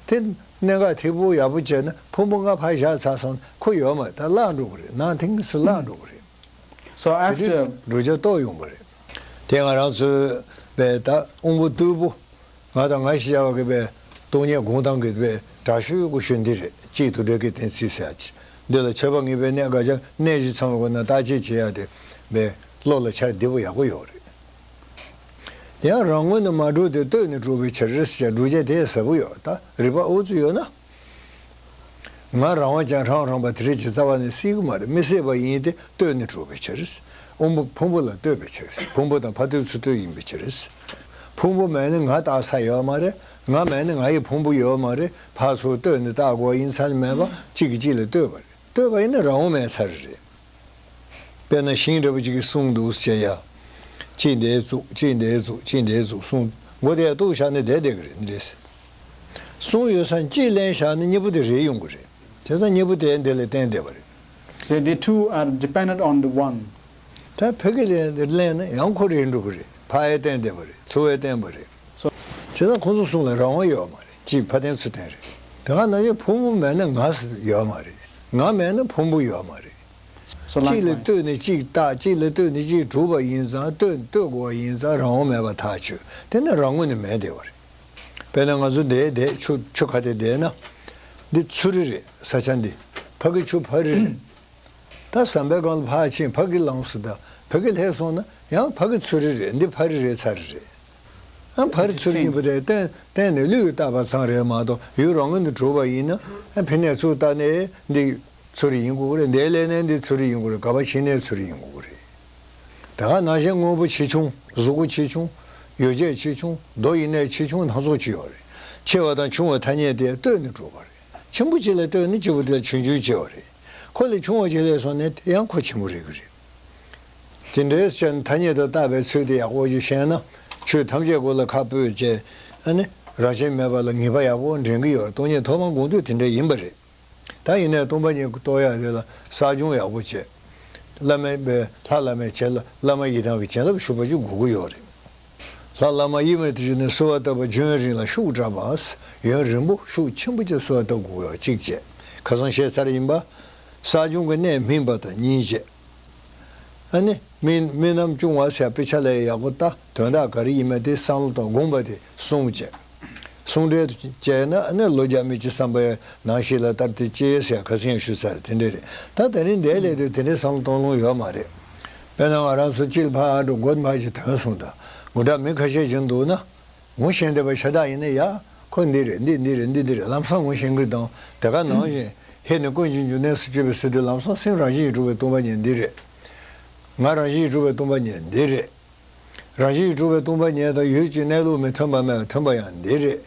དེ་གནད་འགག་ཐིག་པོ་ཡག་པོ་བྱས་ན་ཕུང་པོ་ལྔ་བྷ་གཞག་ཚ་གསུམ་གོ་ཡོད་མ་རེད་ད་བརླག་འགྲོ་གི་རེད་ནང་དེ་དངོས་སུ་བརླག་འགྲོ་གི་རེད། དེ་དུས་འགྲོ་རྒྱ་ལྟོགས་ཡོང་གི་རེད། དེ་ང་རང་ཚོའི་བས་ད་དབུང་པོ་རྟུལ་པོ། ང་དང་ང་ཞེས་བྱ་བ་གི་པའི་སྟོང་ཉིད་དགོངས་དང་གི་པའི་དྲག་ཤུལ་དབྱུག་གུ་ཤུལ་འདི་རེ་གཅིག་ཏུ་འདྲེས་ཀི་གཏན་ཚིགས་སེ་ཡ་ཅི། འདི་ལ་ཆོས་པ་ངེས་པའི་གནད་འགའ་ཆ་གནད་བཞི་ཚང་བའི་སྒོ་ན་བརྟག་དཔྱད་བྱེད་ཡ་དེ་པའི་བློ་ལ་འཆར་བདེ་པོ་ཡག་པོ་ཡོད་རེད། ཡང་རང་ངོས་ནས་མ་གྲུབ་དེ་ལྟོས་ནས་གྲུབ་པའི་ཕྱིར་རེད་ཟེར་བྱ་སྒྲུབ་བྱེད་དེ་ཟབ་པོ་ཡོད་ད་རིག་པ་ཨུ་ཚུགས་ཡོད་ན། ང་རང་བ་ཅང་ཧྲང་རང་བ་དེ་རེད་ཀྱི་རྩ་བ་ནས་སྲིད་ཀྱི་མ་རེད་མི་སྲིད་པ་ཡིན་ཏེ་ལྟོས་ནས་གྲུབ་པའི་ཕྱིར། དབང་པོ་ཕུང་པོ་ལ་ལྟོས་པའི་ཕྱིར་ཕུང་པོ་དང་ཕ་ཐུལ་ཚུལ་ཐུལ་ཡིན་པའི་ཕྱིར། ཕུང་པོ་མེད་ན་ང་བཏགས་ས་ཡོད་པ་མ་རེད་ང་མེད་ན་ང་ཡི་ཕུང་པོ་ཡོད་པ་མ་རེད་ཕ་སོགས་ལྟོས་ནས་བཏགས་དགོས་ཡིན་ཚ་ནས་མེད་པ་གཅིག་གིས་གཅིག་ལ་ལྟོས་པ་རེད་ལྟོས་པ་ཡིན་ན་རང་དབང་མེད་ཚ་རེད། དཔེར་ན་ཤིང་འདྲ་བོ་གཅིག་གིས་གསུངས་འདུག་ཅེས་ཡ། ཅི་འདའི་གཙུག་ཅི་འདའི་གཙུག་ཅི་འདའི་གཙུག་གསུངས་མགོ་བདེ་གཏུག་བཞག་ནས་བསྡད་བསྡད་ཀྱི་རེད། གསུངས་ཡོད་ས་གཅིག་གླེང་བཞག་ནི་གཉིས་པོ་དེ་རེད་ཡོང་གི་རེད་དེ་ཚ་གཉིས་པོ་དེ་འདི་ལས་བསྟན་བསྡད་པ་རེད། ཟེར་དེ two are dependent on the one། ད་ཕེ་ཁི་ལེ་འདིར་གླེང་ན་ཡང་ཁོ་རེད་འགྲོ་གི་རེད་ཕ་ཨའི་བསྟན་བསྡད་པ་རེད་ཚོ་ཨའི་བསྟན་པ་རེད། བྱས་ཙང་ཁོང་ཚོ་གསུངས་ལ་རང་དབང་ཡོད་མ་རེད་གཅིག་ཕ་བསྟན་ཚུལ་བསྟན་རེད་དེ་སྔ་ནང་བཞིན་ཕུང་པོ་མེད་ན་ང་ཡོད་མ་རེད་ང་མེད་ན་ཕུང་པོ་ཡོད་མ་རེད། གཅིག་ལས་ལྟོས་ནས་གཅིག་བརྟག་གཅིག་ལས་ལྟོས་ནས་གཅིག་གྲུབ་པ་ཡིན་ཙང་ལྟོས་ལྟོས་དགོ་བ་ཡིན་ཙང་རང་དབང་མེད་པ་ཐག་ཆོད་དེ་ནི་རང་ངོས་ནས་མེད་བསྡད་པ་རེད། དཔེར་ན་ང་ཚོ་འདས་འདས་ཆུ་ཆུ་ཁ་དེ་འདས་ན། འདི་ཆུ་རི་རེད་ས་ཆ་འདི་ཕ་གི་ཆུ་ཕ་རི་རེད། ད་ཟམ་པའི་སྒང་ལ་ཕ་ཆེན་ཕ་གི་ལངས་སུ་ད་ཕ་གི་ལྷས་སོང་ན་ཡང་ཕ་གི་ཆུ་རི་རེད་འདི་ཕ་རི་རེད་ཚ་རི་རེད། ཨ་ཕ་རི་ཆུ་རི་གཉིས་པོ་དེ་གཏན་གཏན་ནས་ལུས་ཀྱི་རྟག་པ་ཚང་རེད་མ་གཏོགས་ཡུལ་རང་ངོས་ནས་གྲུབ་པ་ཡིན་ན་ཨ་ཕི་ནས་ཚུར་བལྟ་ནས་འདི་ཆུ་རི་ཡིན་དགོས་ཀྱི་རེད་འདས་ལས་ནས་འདི་ཆུ་རི་ཡིན་དགོས་རེད་ག་པ་ཕྱི་ནས་ཆུ་རི་ཡིན་དགོས་ཀྱི་རེད། དེ་ག་ནང་བཞིན་དངོས་པོ་ཆེ་ཆུང་གཟུགས་སྐུ་ཆེ་ཆུང། ཡོ་བྱད་ཆེ་ཆུང་རྡོ་ཡི་གནས་ཆེ་ཆུང་སྣ་ཚོགས་ཅི་ཡོད་རེད། ཆེ་བ་དང་ཆུང་བའི་ཐ་སྙད་དེས་ལྟོས་ནས་གྲུབ་པ་རེད། ཆེན་པོ་གཅིག་ལ་ལྟོས་ནས་སྐྱེས་བུ་དེ་ལ་ཆུང་ཆུང་ཅེས་བ་རེད། ཁོ་ལས་ཆུང་བ་ཞིག་ལས་སོང་ནས་དེ་ཡང་ཁོ་ཆེན་པོ་རེད་གི་རེད། དེ་འདྲའི་སྤྱིར་ཐ་སྙད་དུ་བཏགས་པའི་ཚུལ་དེ་ཡག་པོ་ཞིག་ཤེས་ན་ཆོས་ཐམས་ཅད་གོ་ལ་ཁ་སྤོས་ཅན། རང་བཞིན་མེད་པ་ལ་ངེས་པ་ཡག་པོ་འདྲེན་གི་ཡོད་རེད་སྟོང་ཉིད་ཐོག་མར་དགོངས་དོན་དེ་འདྲ་ཡིན་པ་རེད། ད་ཡིན་ནས་སྟོང་པ་ཉིད་རྟོགས་ཡ་རེད་ལ་བསགས་སྦྱོང་ཡག་པོ་བྱེད། བླ་མའི་དཔེ་ལྷ་བླ་མའི་བྱེད་བླ་མ་ཡི་དམ་གྱི་བྱིན་རླབས་ཞུགས་པ་ཅུང་གོ་གི་ཡོད་རེད། ལྷ་བླ་མ་ཡིད་མ་དུས་ནས་གསོལ་བ་བཏབ་པ་ཇོན་རིང་ལ་ཤུགས་དྲག་པ་ཡོན་རིན་པོ་ཤུགས་ཆེན་པོ་བཅས་གསོལ་བ་བཏབ་གོ་གཅིག་བཅས་ཁ་སང་བཤད་ཚར་ཡིན་པ། བསགས་སྦྱོང་གི་གནད་སྨིན་པ་དང་གཉིས་བཅས་ཨ་ནི་སྨིན་རྣམ་ཅུང་བ་སའི་དཔེ་ཆ་ལས་ཡག་པོ་ལྟ་དོན་དག་ག་རེ་ཡིན་མ་དེ་བསམ་བློ་དང་དགོངས་པ་དེ་གསུངས་བཅས། གསུང་འགྲེལ་དུ་དཔྱད་ན་ནི་ལོ་བརྒྱ་མི་སྤྱི་བསམ་པའི་ནང་ཞིག་ལ་ལྟར་དེ་དཔྱད་ཡས་ཤག་ག་ཚིག་ཡང་ཞུ་ཚར་རེད་དེ་འདྲས་རེད་ད་ད་རིང་འདའི་སླད་དུ་དེ་འདྲས་བསམ་གཏོང་ལོང་ཡོད་མ་རེད། དཔེར་ན་ང་རང་ཚོ་སྤྱིར་ཕ་ཨ་འབྲུག་འགོ་འཕགས་ཀྱི་དོན་གསུང་དང་མགུ་དྲག་མི་ཁ་ཤས་ཀྱང་འདུག་ན་ངུ་ཞེན་དེ་བ་ཤ་སྟག་ཡིན་ན་ཡག་ཁོ་འདི་རེད་འདི་འདི་རེད་འདི་འདི་རེད་ལམ་སང་ངུ་ཞེན་གི་དང་དེ་ག་ནང་བཞིན་ཧེ་ནི་ཀུན་གྱི་འབྱུང་གནས་སུ་སྤྱོད་པའི་སྲིད་དུ་ལམ་སང་སེམས་རང་བཞིན་གྱིས་གྲུབ་པའི་སྟོང་པ་ཉིད་འདི་རེད། ངག་རང་བཞིན་གྱིས་གྲུབ་པའི་སྟོང་པ་ཉིད་འདི་རེད། རང་བཞིན་གྱིས་གྲུབ་པའི་སྟོང་པ་ཉིད་དང་ཡུལ་གྱི་གནས་ལུགས་མི་མཐུན་པ་མེད་པ་མཐུན་པ་ཡང་འདི་རེད།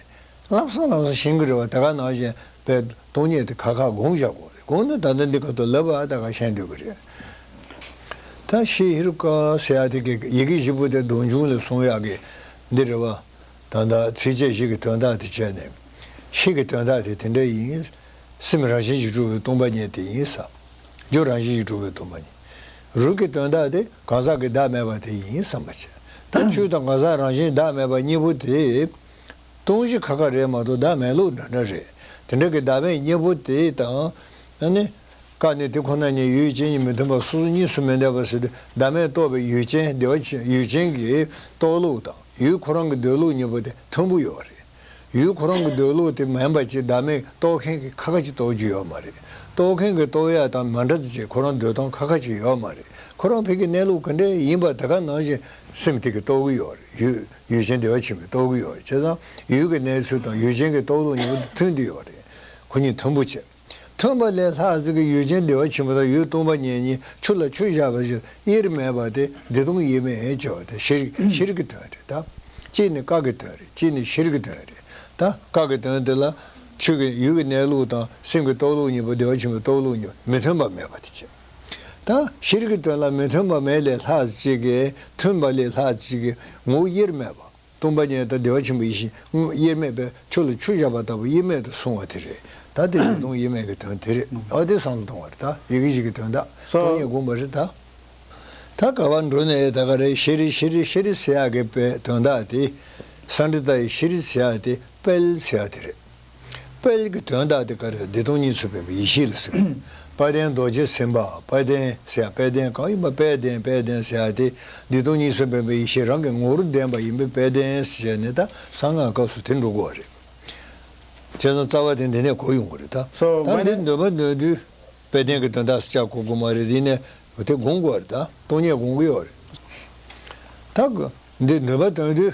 ལམ་སང་ལམ་སང་ཞིང་གི་རེ་བ་དེ་ག་ནང་བཞིན་པའི་སྟོང་ཉིད་དེ་ཁ་ཁ་དགོངས་བཞག་དགོངས་རེད་དགོངས་ན་ད་ལྟ་འདི་ག་ཏུ་ལབ་པའང་ད་ག་ཤེས་འདོད་ཀྱི་རེད། ད་ཤེས་ཧེ་རུ་ཀ་སེ་ཡ་ཐི་ཀའི་ཡི་གེ་བཞི་པོ་དེ་སྡོམ་འབྱུང་ལས་གསུངས་ཡག་གི་འདི་རེ་བ། ད་ད་ཚིགས་བཅད་བཞི་གི་དོན་དག་དེ་བྱས་ནས། ཤིང་གི་དོན་དག་དེ་དེ་འདྲ་ཡིན། སེམས་རང་བཞིན་གྱིས་གྲུབ་པའི་སྟོང་པ་ཉིད་དེ་ཡིན། ས་རྒྱུ་རང་བཞིན་གྱིས་གྲུབ་པའི་སྟོང་པ་ཉིད། རུས་ཀྱི་དོན་དག་དེ། གང་ཟག་གི་བདག་མེད་པ་དེ་ཡིན་བསམ་པ་བྱེད། ད་ཆོས་དང་གང་ཟག་རང་བཞིན་བདག་མེད་པ་གཉིས་པོ་དེ། སྟོང་གཞི་ཁ་ཁ་རེད་མ་གཏོགས་བདག་མེད་ལུགས་འདྲ་འདྲ་རེད། དེ་འདྲ་གི་བདག་མེད་གཉིས་པོ་དེ་དང། ཨ་ནི། ཀ་ནི་དེ་ཁོ་ན་ཉིད་ཡུལ་ཅན་གཉིས་མི་མཐུན་པ་སོ་སོ་གཉིས་སུ་མི་འདས་པ་ཟེར་ཏེ་བདག་མེད་རྟོགས་པའི་ཡུལ་ཅན་བདེ་བ་ཆེན་ཡུལ་ཅན་གྱི་རྟོགས་ལུགས་དང་ཡུལ་ཁོ་རང་གི་འདོད་ལུགས་གཉིས་པོ་དེ་མཐུན་པོ་ཡོད་རེད། ཡུལ་ཁོ་རང་གི་འདོད་བློ་དེ་མེད་པ་ཅིག་བདག་མེད་རྟོགས་མཁན་གྱི་ཁ་ཁ་ཅིག་རྟོགས་རྒྱུ་ཡོད་མ་རེད། རྟོགས་མཁན་གྱི་རྟོགས་ཡ་དང་མ་འདྲ་ཚེ་ཁོ་རང་འདོད་སྟངས་ཁ་ཁ་ཅིག་ཡོད་མ་རེད། ཁོ་རང་ཕལ་གྱི་གནས་ལུགས་ག་འདྲའི་ཡིན་པ་དེ་ག་ནང་བཞིན་སེམས་ཐིག་གིས་རྟོགས་གི་ཡོད་རེད་ཡུལ་ཡུལ་ཅན་བདེ་བ་ཆེན་པོས་རྟོགས་གི་ཡོད་རེད་བྱས་ཙང་ཡུལ་གྱི་གནས་ཚུལ་དང་ཡུལ་ཅན་གྱི་རྟོགས་ལུགས་གཉིས་པོ་མཐུན་གྱི་ཡོད་རེད། ཁོ་གཉིས་མཐུན་པོ་བྱེད། ཐོན་པ་ལས་ལྷ་གཟིགས་ཀྱི་ཡུལ་ཅན་བདེ་བ་ཆེན་པོ་དང་ཡུལ་སྟོང་པ་ཉེ་གཉིས་ཆུ་ལ་ཆུ་བཞག་པ་བཞིན་དབྱེར་མེད་པ་སྟེ་བདེ་སྟོང་དབྱེར་མེད་ཅེས་པ་དེ་ཤེར་ཤེར་གྱི་དོན་རེད་ད། གཅིག་ནི་བཀག་གི་དོན་རེད་གཅིག་ནི་ཤེར་གྱི་དོན་རེད་ད། བཀག་གི་དོན་དེ་ལ། ཆོས་ཀྱི་ཡུལ་གྱི་གནས་ལུགས་དང་སེམས་ཀྱི་རྟོགས་ལུགས་གཉིས་པོ་བདེ་བ་ཆེན་པོའི་རྟོགས་ལུགས་གཉིས་པོ་མི་མཐུན་པ་མེད་པ་དེ་གཅིག་ད། ཤེར་གྱི་དོན་ལ་མི་མཐུན་པ་མེད་ལས་ལྷ་གཅིག་གིས་མཐུན་པ་ལས་ལྷ་གཅིག་གི་ངོ་བོ་དབྱེར་མེད་པ། སྟོང་པ་ཉིད་དང་བདེ་བ་ཆེན་པོ་ཡེ་ཤེས་དངོས་དབྱེར་མེད་པས་ཆུ་ལ་ཆུ་བཞག་པ་ལྟ་བུ་དབྱེར་མེད་དུ་སོང་བ་དེ་རེད་ད་དེ་ལས་སྟོང་དབྱེར་མེད་ཀྱི་དོན་དེ་རེད་ད་དེ་སང་ལ་སྟོང་བར་ད་ཡི་གེ་གཅིག་གི་དོན་ད་སྟོང་ཉིད་བསྒོམ་པ་རེད་ད། ད་ག་བ་འགྲོ་ནས་ད་ག་རེ་ཤེ་རེ་ཤེ་རེ་ཤེ་རེ་སེ་ཡག་གི་དཔེ་དོན་ད་དེ་སང་འདི་ད་ཡི་ཤེ་རེ་སེ་ཡག་དེ་དཔལ་སེ་ཡག་དེ་རེད། དཔལ་གྱི་དོན་རྟགས་དེ་ཀ་རའི་བདེ་སྟོང་གཉིས་ཚུལ་དཔལ་བའི་ཡེ་ཤེས་ལ་ཟེར། དཔལ་ལྡན་རྡོ་རྗེ་སེམས་དཔའ་དཔལ་ལྡན་སེ་ཡ་དཔལ་ལྡན་གང་ཡིན་པ་དཔལ་ལྡན་དཔལ་ལྡན་སེ་ཡ་དེ་བདེ་སྟོང་གཉིས་ཚུལ་དཔལ་བའི་ཡེ་ཤེས་རང་གི་ངོ་བོར་ལྡན་པ་ཡིན་པས་དཔལ་ལྡན་སེ་ཡ་ནི་ད་གསང་སྔགས་སྐབས་སུ་དེ་འགྲོ་དགོས་བ་རེད། བྱས་ཙང་རྩ་བ་དེ་འདི་ནས་གོ་ཡོང་གི་རེད་ད། ད་འདི་འདོན་པ་འདོན་དུས་དཔལ་ལྡན་གྱི་དོན་རྟགས་སུ་ཅག་གོ་དགོས་མ་རེད་དེ་ནས་དེ་དགོངས་དགོས་བ་རེད་ད་སྟོང་ཉིད་དགོངས་ཀྱི་ཡོད་རེད། ད་འདི་འདོན་པ་འདོན་དུས།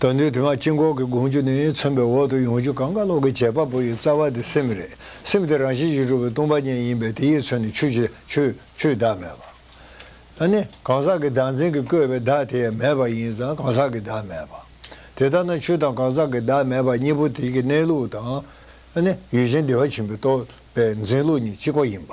དོན་དུ་དེ་མ་སྐྱེས་འགོག་གི་དགོངས་རྒྱུ་ནི་མཚོན་པའི་འོག་ཏུ་ཡོངས་གཅོད་གང་གཱ་ལོག་གི་བྱེད་པ་པོ་ཡི་རྩ་བ་དེ་སེམས་རེད། སེམས་དེ་རང་བཞིན་གྱིས་གྲུབ་པའི་སྟོང་པ་ཉིད་ཡིན་པས་དེ་ཡིས་མཚོན་ནས་ཆུ་བྱེད། ཆུའི་བདག་མེད་པ། ད་ནི། གང་ཟག་གི་བདག་འཛིན་གྱིས་བསྐོས་པའི་བདག་དེ་ཡང་མེད་པ་ཡིན་ཙང་གང་ཟག་གི་བདག་མེད་པ། དེ་ལྟར་ན་ཆུ་དང་གང་ཟག་གི་བདག་མེད་པ་གཉིས་པོ་དེ་གི་གནས་ལུགས་དང། ད་ནི། ཡུལ་ཅན་བདེ་བ་ཆེན་པོའི་རྟོག་པའི་འཛིན་ལུགས་གཉིས་གཅིག་པ་ཡིན་པ།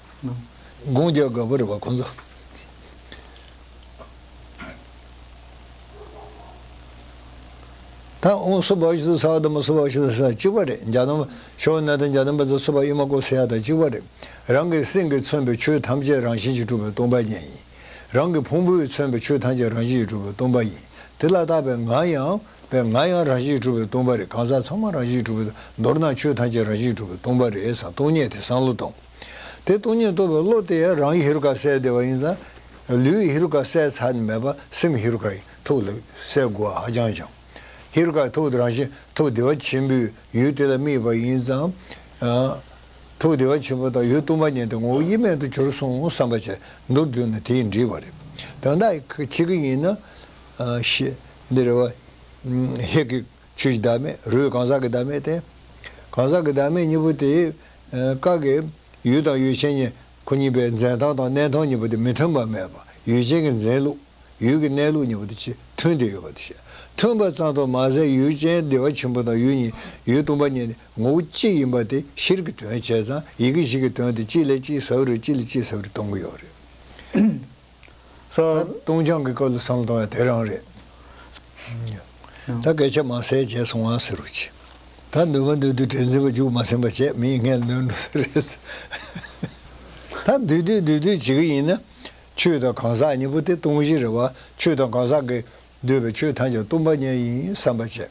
དགུང་བརྒྱ་དགའ་བར་བ་ཁོ་ཚོ། ད་ཨོང་སོ་བ་ཤི་ད་སྭ་དམ་སོ་བ་ཤི་ད་སྭ་གཅིག་པ་རེད་འཇའ་དམ་ཤོ་ན་དང་འཇའ་དམ་པ་ཚོ་སོ་བ་ཨི་མ་ཀོ་སེ་ཡ་ད་གཅིག་པ་རེད་རང་གི་སེམས་ཀྱི་མཚོན་པའི་ཆོས་ཐམས་ཅད་རང་བཞིན་གྱིས་གྲུབ་པའི་སྟོང་པ་ཉིད་ཡིན་རང་གི་ཕུང་པོའི་མཚོན་པའི་ཆོས་ཐམས་ཅད་རང་བཞིན་གྱིས་གྲུབ་པའི་སྟོང་པ་ཡིན་དེ་ལ་བརྟགས་པའི་ང་ཡང། པས་ང་ཡང་རང་བཞིན་གྲུབ་པའི་སྟོང་པ་རེད་གང་ཟག་ཚང་མ་རང་བཞིན་གྲུབ་པའི་མདོར་ན་ཆོས་ཐམས་ཅད་རང་བཞིན་གྲུབ་པའི་སྟོང་པ་རེད་ས་སྟོང་ཉིད་དེ་བསམ་བློ་གཏོང། དེ་སྟོང་ཉིད་རྟོགས་པའི་བློ་དེ་ཡང་རང་གི་ཧེ་རུ་ཀ་གསལ་བདེ་བ་ཡིན་ཙང། ལུས་ཧེ་རུ་ཀ་གསལ་ཚར་ནས་མེད་པ་སེམས་ཧེ་རུ་ཀ་ཡིན་ཐུགས་ལ་གསལ་དགོས་བ་ཧ་ཅང་བྱང། ཧེ་རུ་ཀ་ཐུགས་དེ་རང་བཞིན་ཐུགས་བདེ་བ་ཆེན་པོའི་ཡུལ་དེ་ལ་དམིགས་པ་ཡིན་ཙང། ཐུགས་བདེ་བ་ཆེན་པོ་དང་ཡུལ་སྟོང་པ་ཉིད་དེ་ངོ་བོ་དབྱེར་མེད་དུ་གྱུར་སོང་བསམ་པ་བྱས་མདོར་བསྡུས་ན་དེ་ཡིན་འདྲི་བ་རེད། དོན་དག་གཅིག་ཡིན་ན། འདི་རེ་བ། ཧེ་ཀི། ཆོས་ཀྱི་བདག་མེད་རོའི་གང་ཟག་གི་བདག་མེད་དེ། གང་ཟག་གི་བདག་མེད་གཉིས་པོ་དེ། ཀ་ཀི། ཡུལ་དང་ཡུལ་ཅན་གཉིས་ཁོ་གཉིས་པའི་འཛིན་སྟངས་དང་གནས་སྟངས་གཉིས་པོ་དེ་མི་མཐུན་པ་མེད་པ་ཡུལ་ཅན་གྱི་འཛིན་ལུགས། ཡུལ་གྱི་གནས་ལུགས་གཉིས་པོ་དེ་ཆེས་མཐུན་དེ་ཡོད་པ་དེ་བཤད། མཐུན་པ་ཙམ་དུ་མ་ཟད་ཡུལ་ཅན་བདེ་བ་ཆེན་པོ་དང་ཡུལ་གཉིས་ཡུལ་སྟོང་པ་གཉིས་ནི་ངོ་བོ་གཅིག་ཡིན་པ་དེ་ཤེར་གྱི་དོན་བྱས་ཙང་ཡི་གེ་བཞི་གི་དོན་དེ་གཅིག་ལས་གཅིག་ཟབ་རེ་གཅིག་ལས་གཅིག་ཟབ་རེ་གཏོང་གི་ཡོད་རེད། ད་སྟོང་ཆང་གི་སྐབས་ལ་བསམ་བློ་བཏང་ཡང་དེ་རང་རེད། ད་སྐད་ཆ་མང་ཟེར་བྱས་སོང་ང་ཟེར་རོ་ཅིག། ད་འདུན་མ་འདུན་དུས་དྲན་འཛིན་པ་རྒྱུགས་མ་ཟིན་པ་བྱས་མིས་ངས་ནོན་འགྲོ་ས་རེད། ད་འདུས་དུས་འདུས་དུས་བྱེད་ཀྱི་ཡིན་ན། ཆོས་དང་གང་ཟག་གཉིས་པོ་དེ་སྟོང་གཞི་རེད་བ་ཆོས་དང་གང་ཟག་གིས་འདོད་པའི་ཆོས་ཐམས་ཅད་སྟོང་པ་ཉིད་ཡིན་བསམ་པ་བྱས།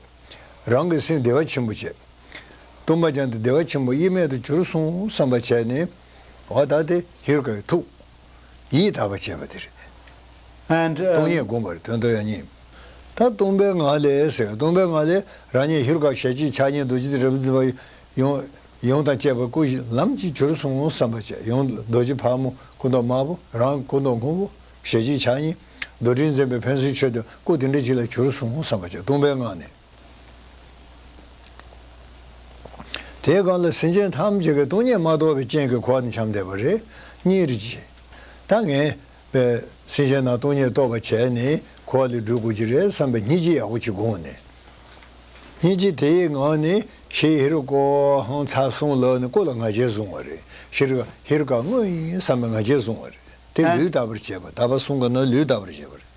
རང་གི་སེམས་བདེ་བ་ཆེན་པོ་བྱས། སྟོང་པ་ཅན་དུ་བདེ་བ་ཆེན་པོ་དབྱེར་མེད་དུ་གྱུར་སོང་བསམ་པ་བྱས་ནས། འོ་ད་དེ་ཧིར་ཀའི་ཐུགས། ཡིད་དག་པར་བྱེད་པ་དེ་རེད། སྟོང་ཉིད་བསྒོམ་པར་དོན་དུ་ཡང་སྙིང། ད་སྟོང་པའི་ངང་ལས་ཟེར་སྟོང་པའི་ངང་ལས་རང་ཉིད་ཧེ་རུ་ཀ་ཞལ་གཅིག་ཕྱག་གཉིས་རྡོ་རྗེ་ཏི་ར་བུ་ཛི་བ། ཡོངས་དང་བཅས་པ་སྐུ་བཞི་ལམ་གྱི་གྱུར་སོང་ངོ་བསམ་པ་བཅས་ཡོངས་རྡོ་རྗེ་ཕག་མོ་སྐུ་མདོག་དམར་པོ་རང་སྐུ་མདོག་སྔོན་པོ་ཞལ་གཅིག་ཕྱག་གཉིས། རྡོར་དྲིལ་འཛིན་པའི་ཕན་ཚུན་ཆོད་དོ་སྐུ་དེ་འདྲ་གཅིག་ལ་གྱུར་སོང་ངོ་བསམ་པ་བཅས་སྟོང་པའི་ངང་ནས། དེའི་སྒང་ལ་སེམས་ཅན་ཐམས་ཅད་ཀྱི་སྟོང་ཉིད་མ་རྟོགས་པའི་རྐྱེན་གྱིས་འཁོར་བར་འཁྱམས་བསྡད་པ་རེ་གཉིས་རེ་གྱིས། ད་ངན། པས་སེམས་ཅན་རྣམས་སྟོང་ཉིད་རྟོགས་པར་བྱས་ནས་འཁོར་བ་ལས་སྒྲོལ་དགོས་ཀྱི་རེད་བསམ་པའི་སྙིང་རྗེ་ཡག་པོ་གཅིག་དགོངས་ནས། སྙིང་རྗེ་དེའི་ངང་ནས་ཤེས་ཧེ་རུ་ཀའོ་ཧཱུྃ་ཚ་གསུང་ལག་ནས་བཀུག་ལ་ང་རྒྱལ་བཟུང་བ་རེ་ཤི་རུ་ཀ་ཧེ་རུ་ཀ་དངོས་ཡིན་བསམ་པའི་ང་རྒྱལ་བཟུང་བ་རེ་དེ་ལུས་དག་པར་བྱས་པ་དག་པ་གསུང་གི་ནང་ལུས་དག་པར་བྱས་པ་རེ།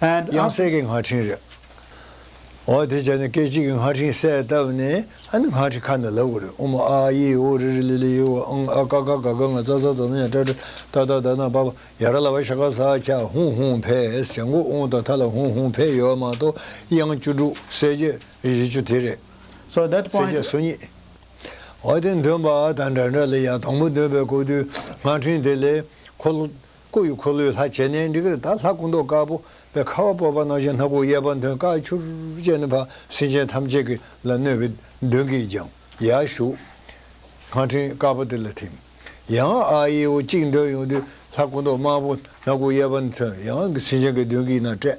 and དབྱངས་གསལ་གྱི་ངག་འཕྲིན་རེད། འོ་དེ་བྱས་ནས་སྐད་ཅིག་གི་ངག་འཕྲིན་གསལ་བཏབ་ནས་ཨ་ནི་ངག་འཕྲིན་ཁ་ནས་ལབ་དགོས་རེད་ཨུ་མ་ཨ་ཨ་ཡེ་ཡེ་ཨོ་རི་རི་ལི་ལི་ཡེ་ཨོ་ཨང་ཨ་ཀ་ཀ་ག་ག་ང་ཙ་ཙ་ཙོ་ན་ཡ་ཏྲ་ཏྲི་ཏཱ་ཏཱ་དཱ་ན་བ་བ་ཡ་ར་ལ་བ་ཤ་ཀ་ས་ཁྱ་ཧུང་ཧུང་བྷེ་ཨེས་བྱ་མགོ་ཨོང་དང་ཐ་ལ་ཧུང་ཧུང་བྷེ་ཡོད་མ་གཏོགས་དབྱངས་བཅུ་དྲུག་གསལ་བྱེད་བཞི་བཅུ་དེ་རེད། so that གསལ་བྱེད point སོ་གཉིས། འོ་དེ་འདོན་པ་དང་འདྲ་འདྲ་ལ་ཡང་དང་པོ་འདོན་པའི་སྐོར་དུས་ངག་འཕྲིན་དེ་ལས་ཁོ། སྐུ་ཡི་འཁོར་ལོའི་ལྷ་བྱས་ནས་འདི་གར་དར་ལྷ་སྐུ་མདོག་དཀར་པོ་བའི་ཁ་བ་སྤོས་པ་སྣང་ཞིང་སྣ་ཁུག་གཡས་པ་མཐོན་དཀར་ཆུར་བཅས་ནས་འཕགས་སེང་ཆེན་ཐམས་ཅད་ཀྱི་ལ་བསྣོལ་བའི་མདུན་གྱི་རྒྱང་ཡར་བཞུགས། སྔགས་ཕྲེང་དཀར་པོ་དེ་ལ་ཐིམ། ཡང་ཨ་ཡེ་འོ་གཅིག་འདོན་ཡོང་དུས་ལྷ་སྐུ་མདོག་དམར་པོ་སྣ་ཁུག་གཡས་པ་མཐོན་ཡང་སེང་ཆེན་གྱི་མདུན་གྱི་ན་སྤྲད།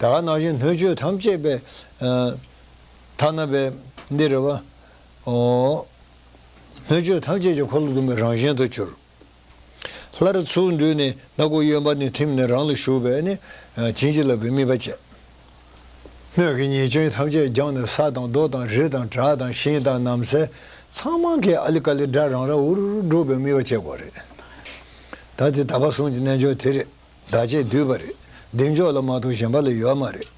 དེ་ལ་ན་བཞིན་སྣོད་བཅུད་ཐམས་ཅད་པའི། ཐ་ན་པའི། འདི་རེ་བ། སྣོད་བཅུད་ཐམས་ཅད་ཀྱི་འཁོར་ལོ་ཟླུམ་པའི་རང་བཞིན་དུ་གྱུར། སླར་ཚུར་མདུན་ནས་སྣ་སྒོ་གཡོན་པ་ནས་ཐིམ་ནས་རང་ལ་ཞུགས་པས་ནི། བྱིན་གྱིས་བརླབས་པའི་སྨིན་པ་བསྐྱེད། སྣོད་ཀྱི་ཉེས་སྐྱོན་ཐམས་ཅད་སྦྱངས་ནས་ས་དང་རྡོ་དང་རི་དང་བྲག་དང་ཤིང་དང་ནམ་སེལ་ཚང་མང་གི་ཨཱ་ལི་ཀཱ་ལི་སྒྲ་རང་རང་འུར་འུར་སྒྲོག་པའི་སྨིན་པ་བསྐྱེད་དགོས་རེད། ད་དེ་ད་པ་གསུང་གི་རྣལ་འབྱོར་དེ་རེད། བདག་ཅེས་བསྡུས་པ་རེད། བདེ་མཆོག་ལ་མ་གཏོགས་གཞན་པ་ལ་ཡོད་མ་རེད།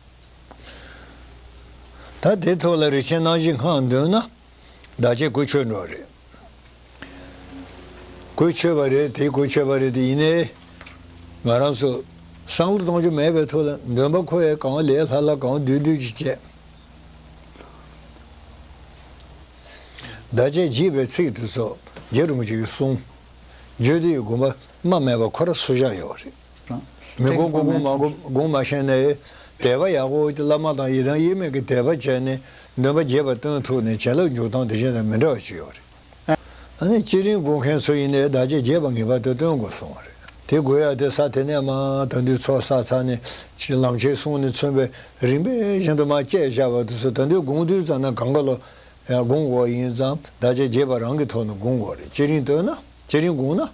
ད་དེ་ཐོག་ལ་རིག་ཆེན་སྣང་བཞི་སྔགས་འདོན་ན། བདག་ཅེས་གོས་ཆོད་འགྲོ་རེད། གོས་ཆོད་པ་རེད་དེ་གོས་ཆོད་པ་རེད་དེ་ཡིན་ནའི། ང་རང་ཚོ། བསམ་བློ་གཏོང་རྒྱུ་མེད་པའི་ཐོག་ལ་འདོན་པ་ཁོ་བས་གང་ལེགས་ལྷག་ལྷག་གང་བསྡུས་བསྡུས་ཀྱིས་བྱས། བདག་ཅེས་བགྱིས་པའི་ཚིག་དེ་ཚོ་རྒྱ་རུ་མི་ཆུག་གསུངས། བརྗོད་དེ་ཡི་དགོངས་པ་རྨ་མེད་པ་ཁོ་ར་སུ་བཞག་ཡོད་རེད། མི་དགོངས་དགོངས་དགོངས་མ་དགོངས་དགོངས་མ་ཤེས་ནའི། དད་པ་ཡག་པོ་བོ་ཅི་བླ་མ་དང་ཡི་དམ་དབྱེར་མེད་ཀྱི་དད་པ་བྱས་ནས་འདོན་པ་རྒྱས་པ་སྟོན་ཐུབ་ནས་བྱིན་རླབས་འཇུག་སྟངས་དེ་གཞན་དང་མི་འདྲ་བ་ཅིག་ཡོད་རེད། ཨ་ནི་སྤྱི་རིང་དགོས་མཁན་ཚོ་ཡིན་ནའི་བདག་ཅག་རྒྱས་པ་ངེས་པར་དུ་སྟོན་དགོས་གསུངས་བ་རེད། དེ་དགོས་ཡ་དེ་ས་དེ་ནས་མ་ད་འདུས་ཚོགས་བསགས་ཚར་ནས་ཅིག་ལམ་ཁྱེར་གསུངས་ནས་མཚོན་པའི་རིམ་པས་བཞིན་དུ་མ་སྐྱེས་བཞག་པ་དུས་སུ་ད་འདུས་དགོངས་བསྡུས་ཙམ་ན་གངྒཱ་ལོ་དགོངས་འོག་ཡིན་ཙང་བདག་ཅག་རྒྱས་པ་རང་གི་ཐོག་ནས་དགོངས་འོག་རེད་ཅེ་རིང་སྟོན་ན་ཅེ་རིང་དགོངས་ན།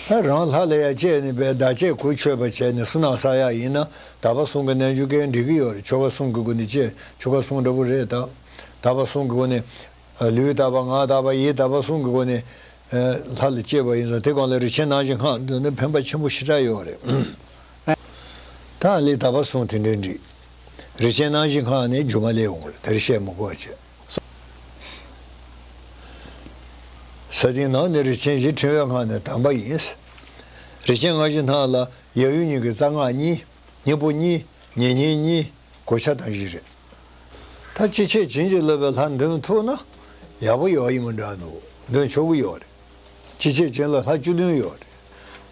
ལྷ་རང་ལྷ་ལ་ཡ་བསྐྱེད་ནས་པའི་བདག་བསྐྱེད་གོ་ཆོད་པ་བྱས་ནས་སུ་ནང་ས་ཡ་ཡིན་ན་དག་པ་གསུང་གི་རྣལ་འབྱོར་སྐད་འགྲིག་གི་ཡོད་རེད་ཆོ་ག་གསུང་གི་སྒོ་ནས་བསྐྱེད་ཆོ་ག་གསུང་འདྲ་པོ་རེད་དག་དག་པ་གསུང་གི་སྒོ་ནས། ལུས་དག་པ་ངག་དག་པ་ཡིད་དག་པ་གསུང་གི་སྒོ་ནས། ལྷ་ལ་བསྐྱེད་པ་ཡིན་ཙང་དེ་གང་ལ་རིག་བྱེད་སྣང་བྱེད་སྔགས་འདོན་ན་ཕན་པ་ཆེན་པོ་ཞེ་དྲག་ཡོད་རེད། དག་ལས་དག་པ་གསུང་དེ་འདྲའི་འགྲིག། རི་ཆེན་སྣང་བཞི་ཁང་ནས་རྒྱུ་མ་ལས་འོངས་ལ་དེར་བཤད་མོ་བཀོད་བྱས་སོ། ས་སྟེང་ནང་ནི་རི་ཆེན་བཞི་ཕྲེང་བའི་ཁང་ནི་དམ་པ་ཡིན། རི་ཆེན་སྔགས་བཞི་སྣང་ལ་ཡབ་ཡུམ་གཉིས་ཀྱི་རྩ་སྔགས་གཉིས་སྙིང་པོ་གཉིས་ཉེ་སྙིང་གཉིས་གོ་ཆ་དང་བཞི་རེད། ད་ཅི་བྱེད་བྱིན་གྱིས་རློབ་པའི་ལྷ་མདུན་ཐུག་ན་ཡག་པོ་ཡོད་ཡིན་མོ་འདྲ་འདུག་མདུན་ཕྱོགས་དགུ་ཡོད་རེད། ཅི་བྱེད་བྱིན་ལ་ལྷ་བཅུ་བདུན་ཡོད་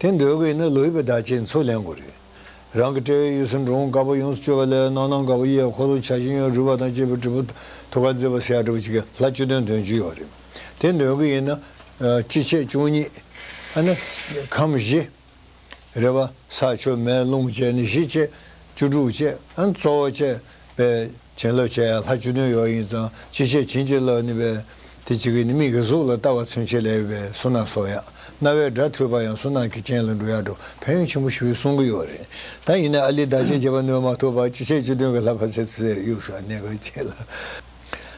རེད། དེ་འདོད་གི་ཡིན་ན་ལོ་ཡི་པའི་བརྡ་བྱེད་མཚོ་ལེན་དགོས་རེད། རང་གི་དཔྲལ་བའི་གཡས་སུ་འབྲུ་འོང་དཀར་པོ་ཡོངས་སུ་སྤྱོད་པ་ལས་ནང་ནང་དཀར་པོ་གཡས་འཁོར་ལོ་བྱ་ཞིང་ཡང་རུས་པ་དང་བཅས་པའི་དྲིལ་བུ་ཐུགས་ཀར་མཛེས་པར་བྱས་དྲིལ་བུ་ཆེ་གེ་ལྷ་བཅུ་དོན་དོན་བཅུ་ཡོད་རེད། དེ་འདོན་གྱི་ཡིན་ན། སྤྱི་ཆས་བཅུ་གཉིས། ཨ་ནི། ཁམས་བཞི། རེད་པ། ས་ཆུ་མེ་རླུང་བཅས་ནི་བཞི་བཅས། བཅུ་དྲུག་བཅས། ཨ་ནི་གཙོ་བོ་བཅས། པས། བྱིན་རླབས་བྱས་ལྷ་བཅུ་དོན་ཡོད་ཡིན་ཙང་ཅི་བྱས་བྱིན་གྱིས་བརླབས་ནི་པས། དེ་གཅིག་གིས་ནི་མིག་གི་གཟུགས་ལ་ལྟ་བ་ཚིམ་བྱེད་ལས་ཡོད་པས་སུན་སྣང་སོགས་ཡང། རྣ་བའི་སྒྲ་ཐོས་པ་ཡང་སུན་སྣང་གི་རྐྱེན་ལ་འགྲོ་ཡག་འགྲོ་ཕན་ཡོན་ཆེན་པོ་ཞུ་བའི་གསུང་གི་ཡོད་རེད་ད་ཡིན་ན་ཨ་ལི་བདག་ཅེས་བྱ་བ་ནོན་མ་ཐུབ་པར་ཅི་བྱས་བཅུ་དོན་གྱི་ལྷ་ཕ་ཚད་ཚོས་གཡུག་ཞོར་གནས་སྐོར་བྱེད་ལ།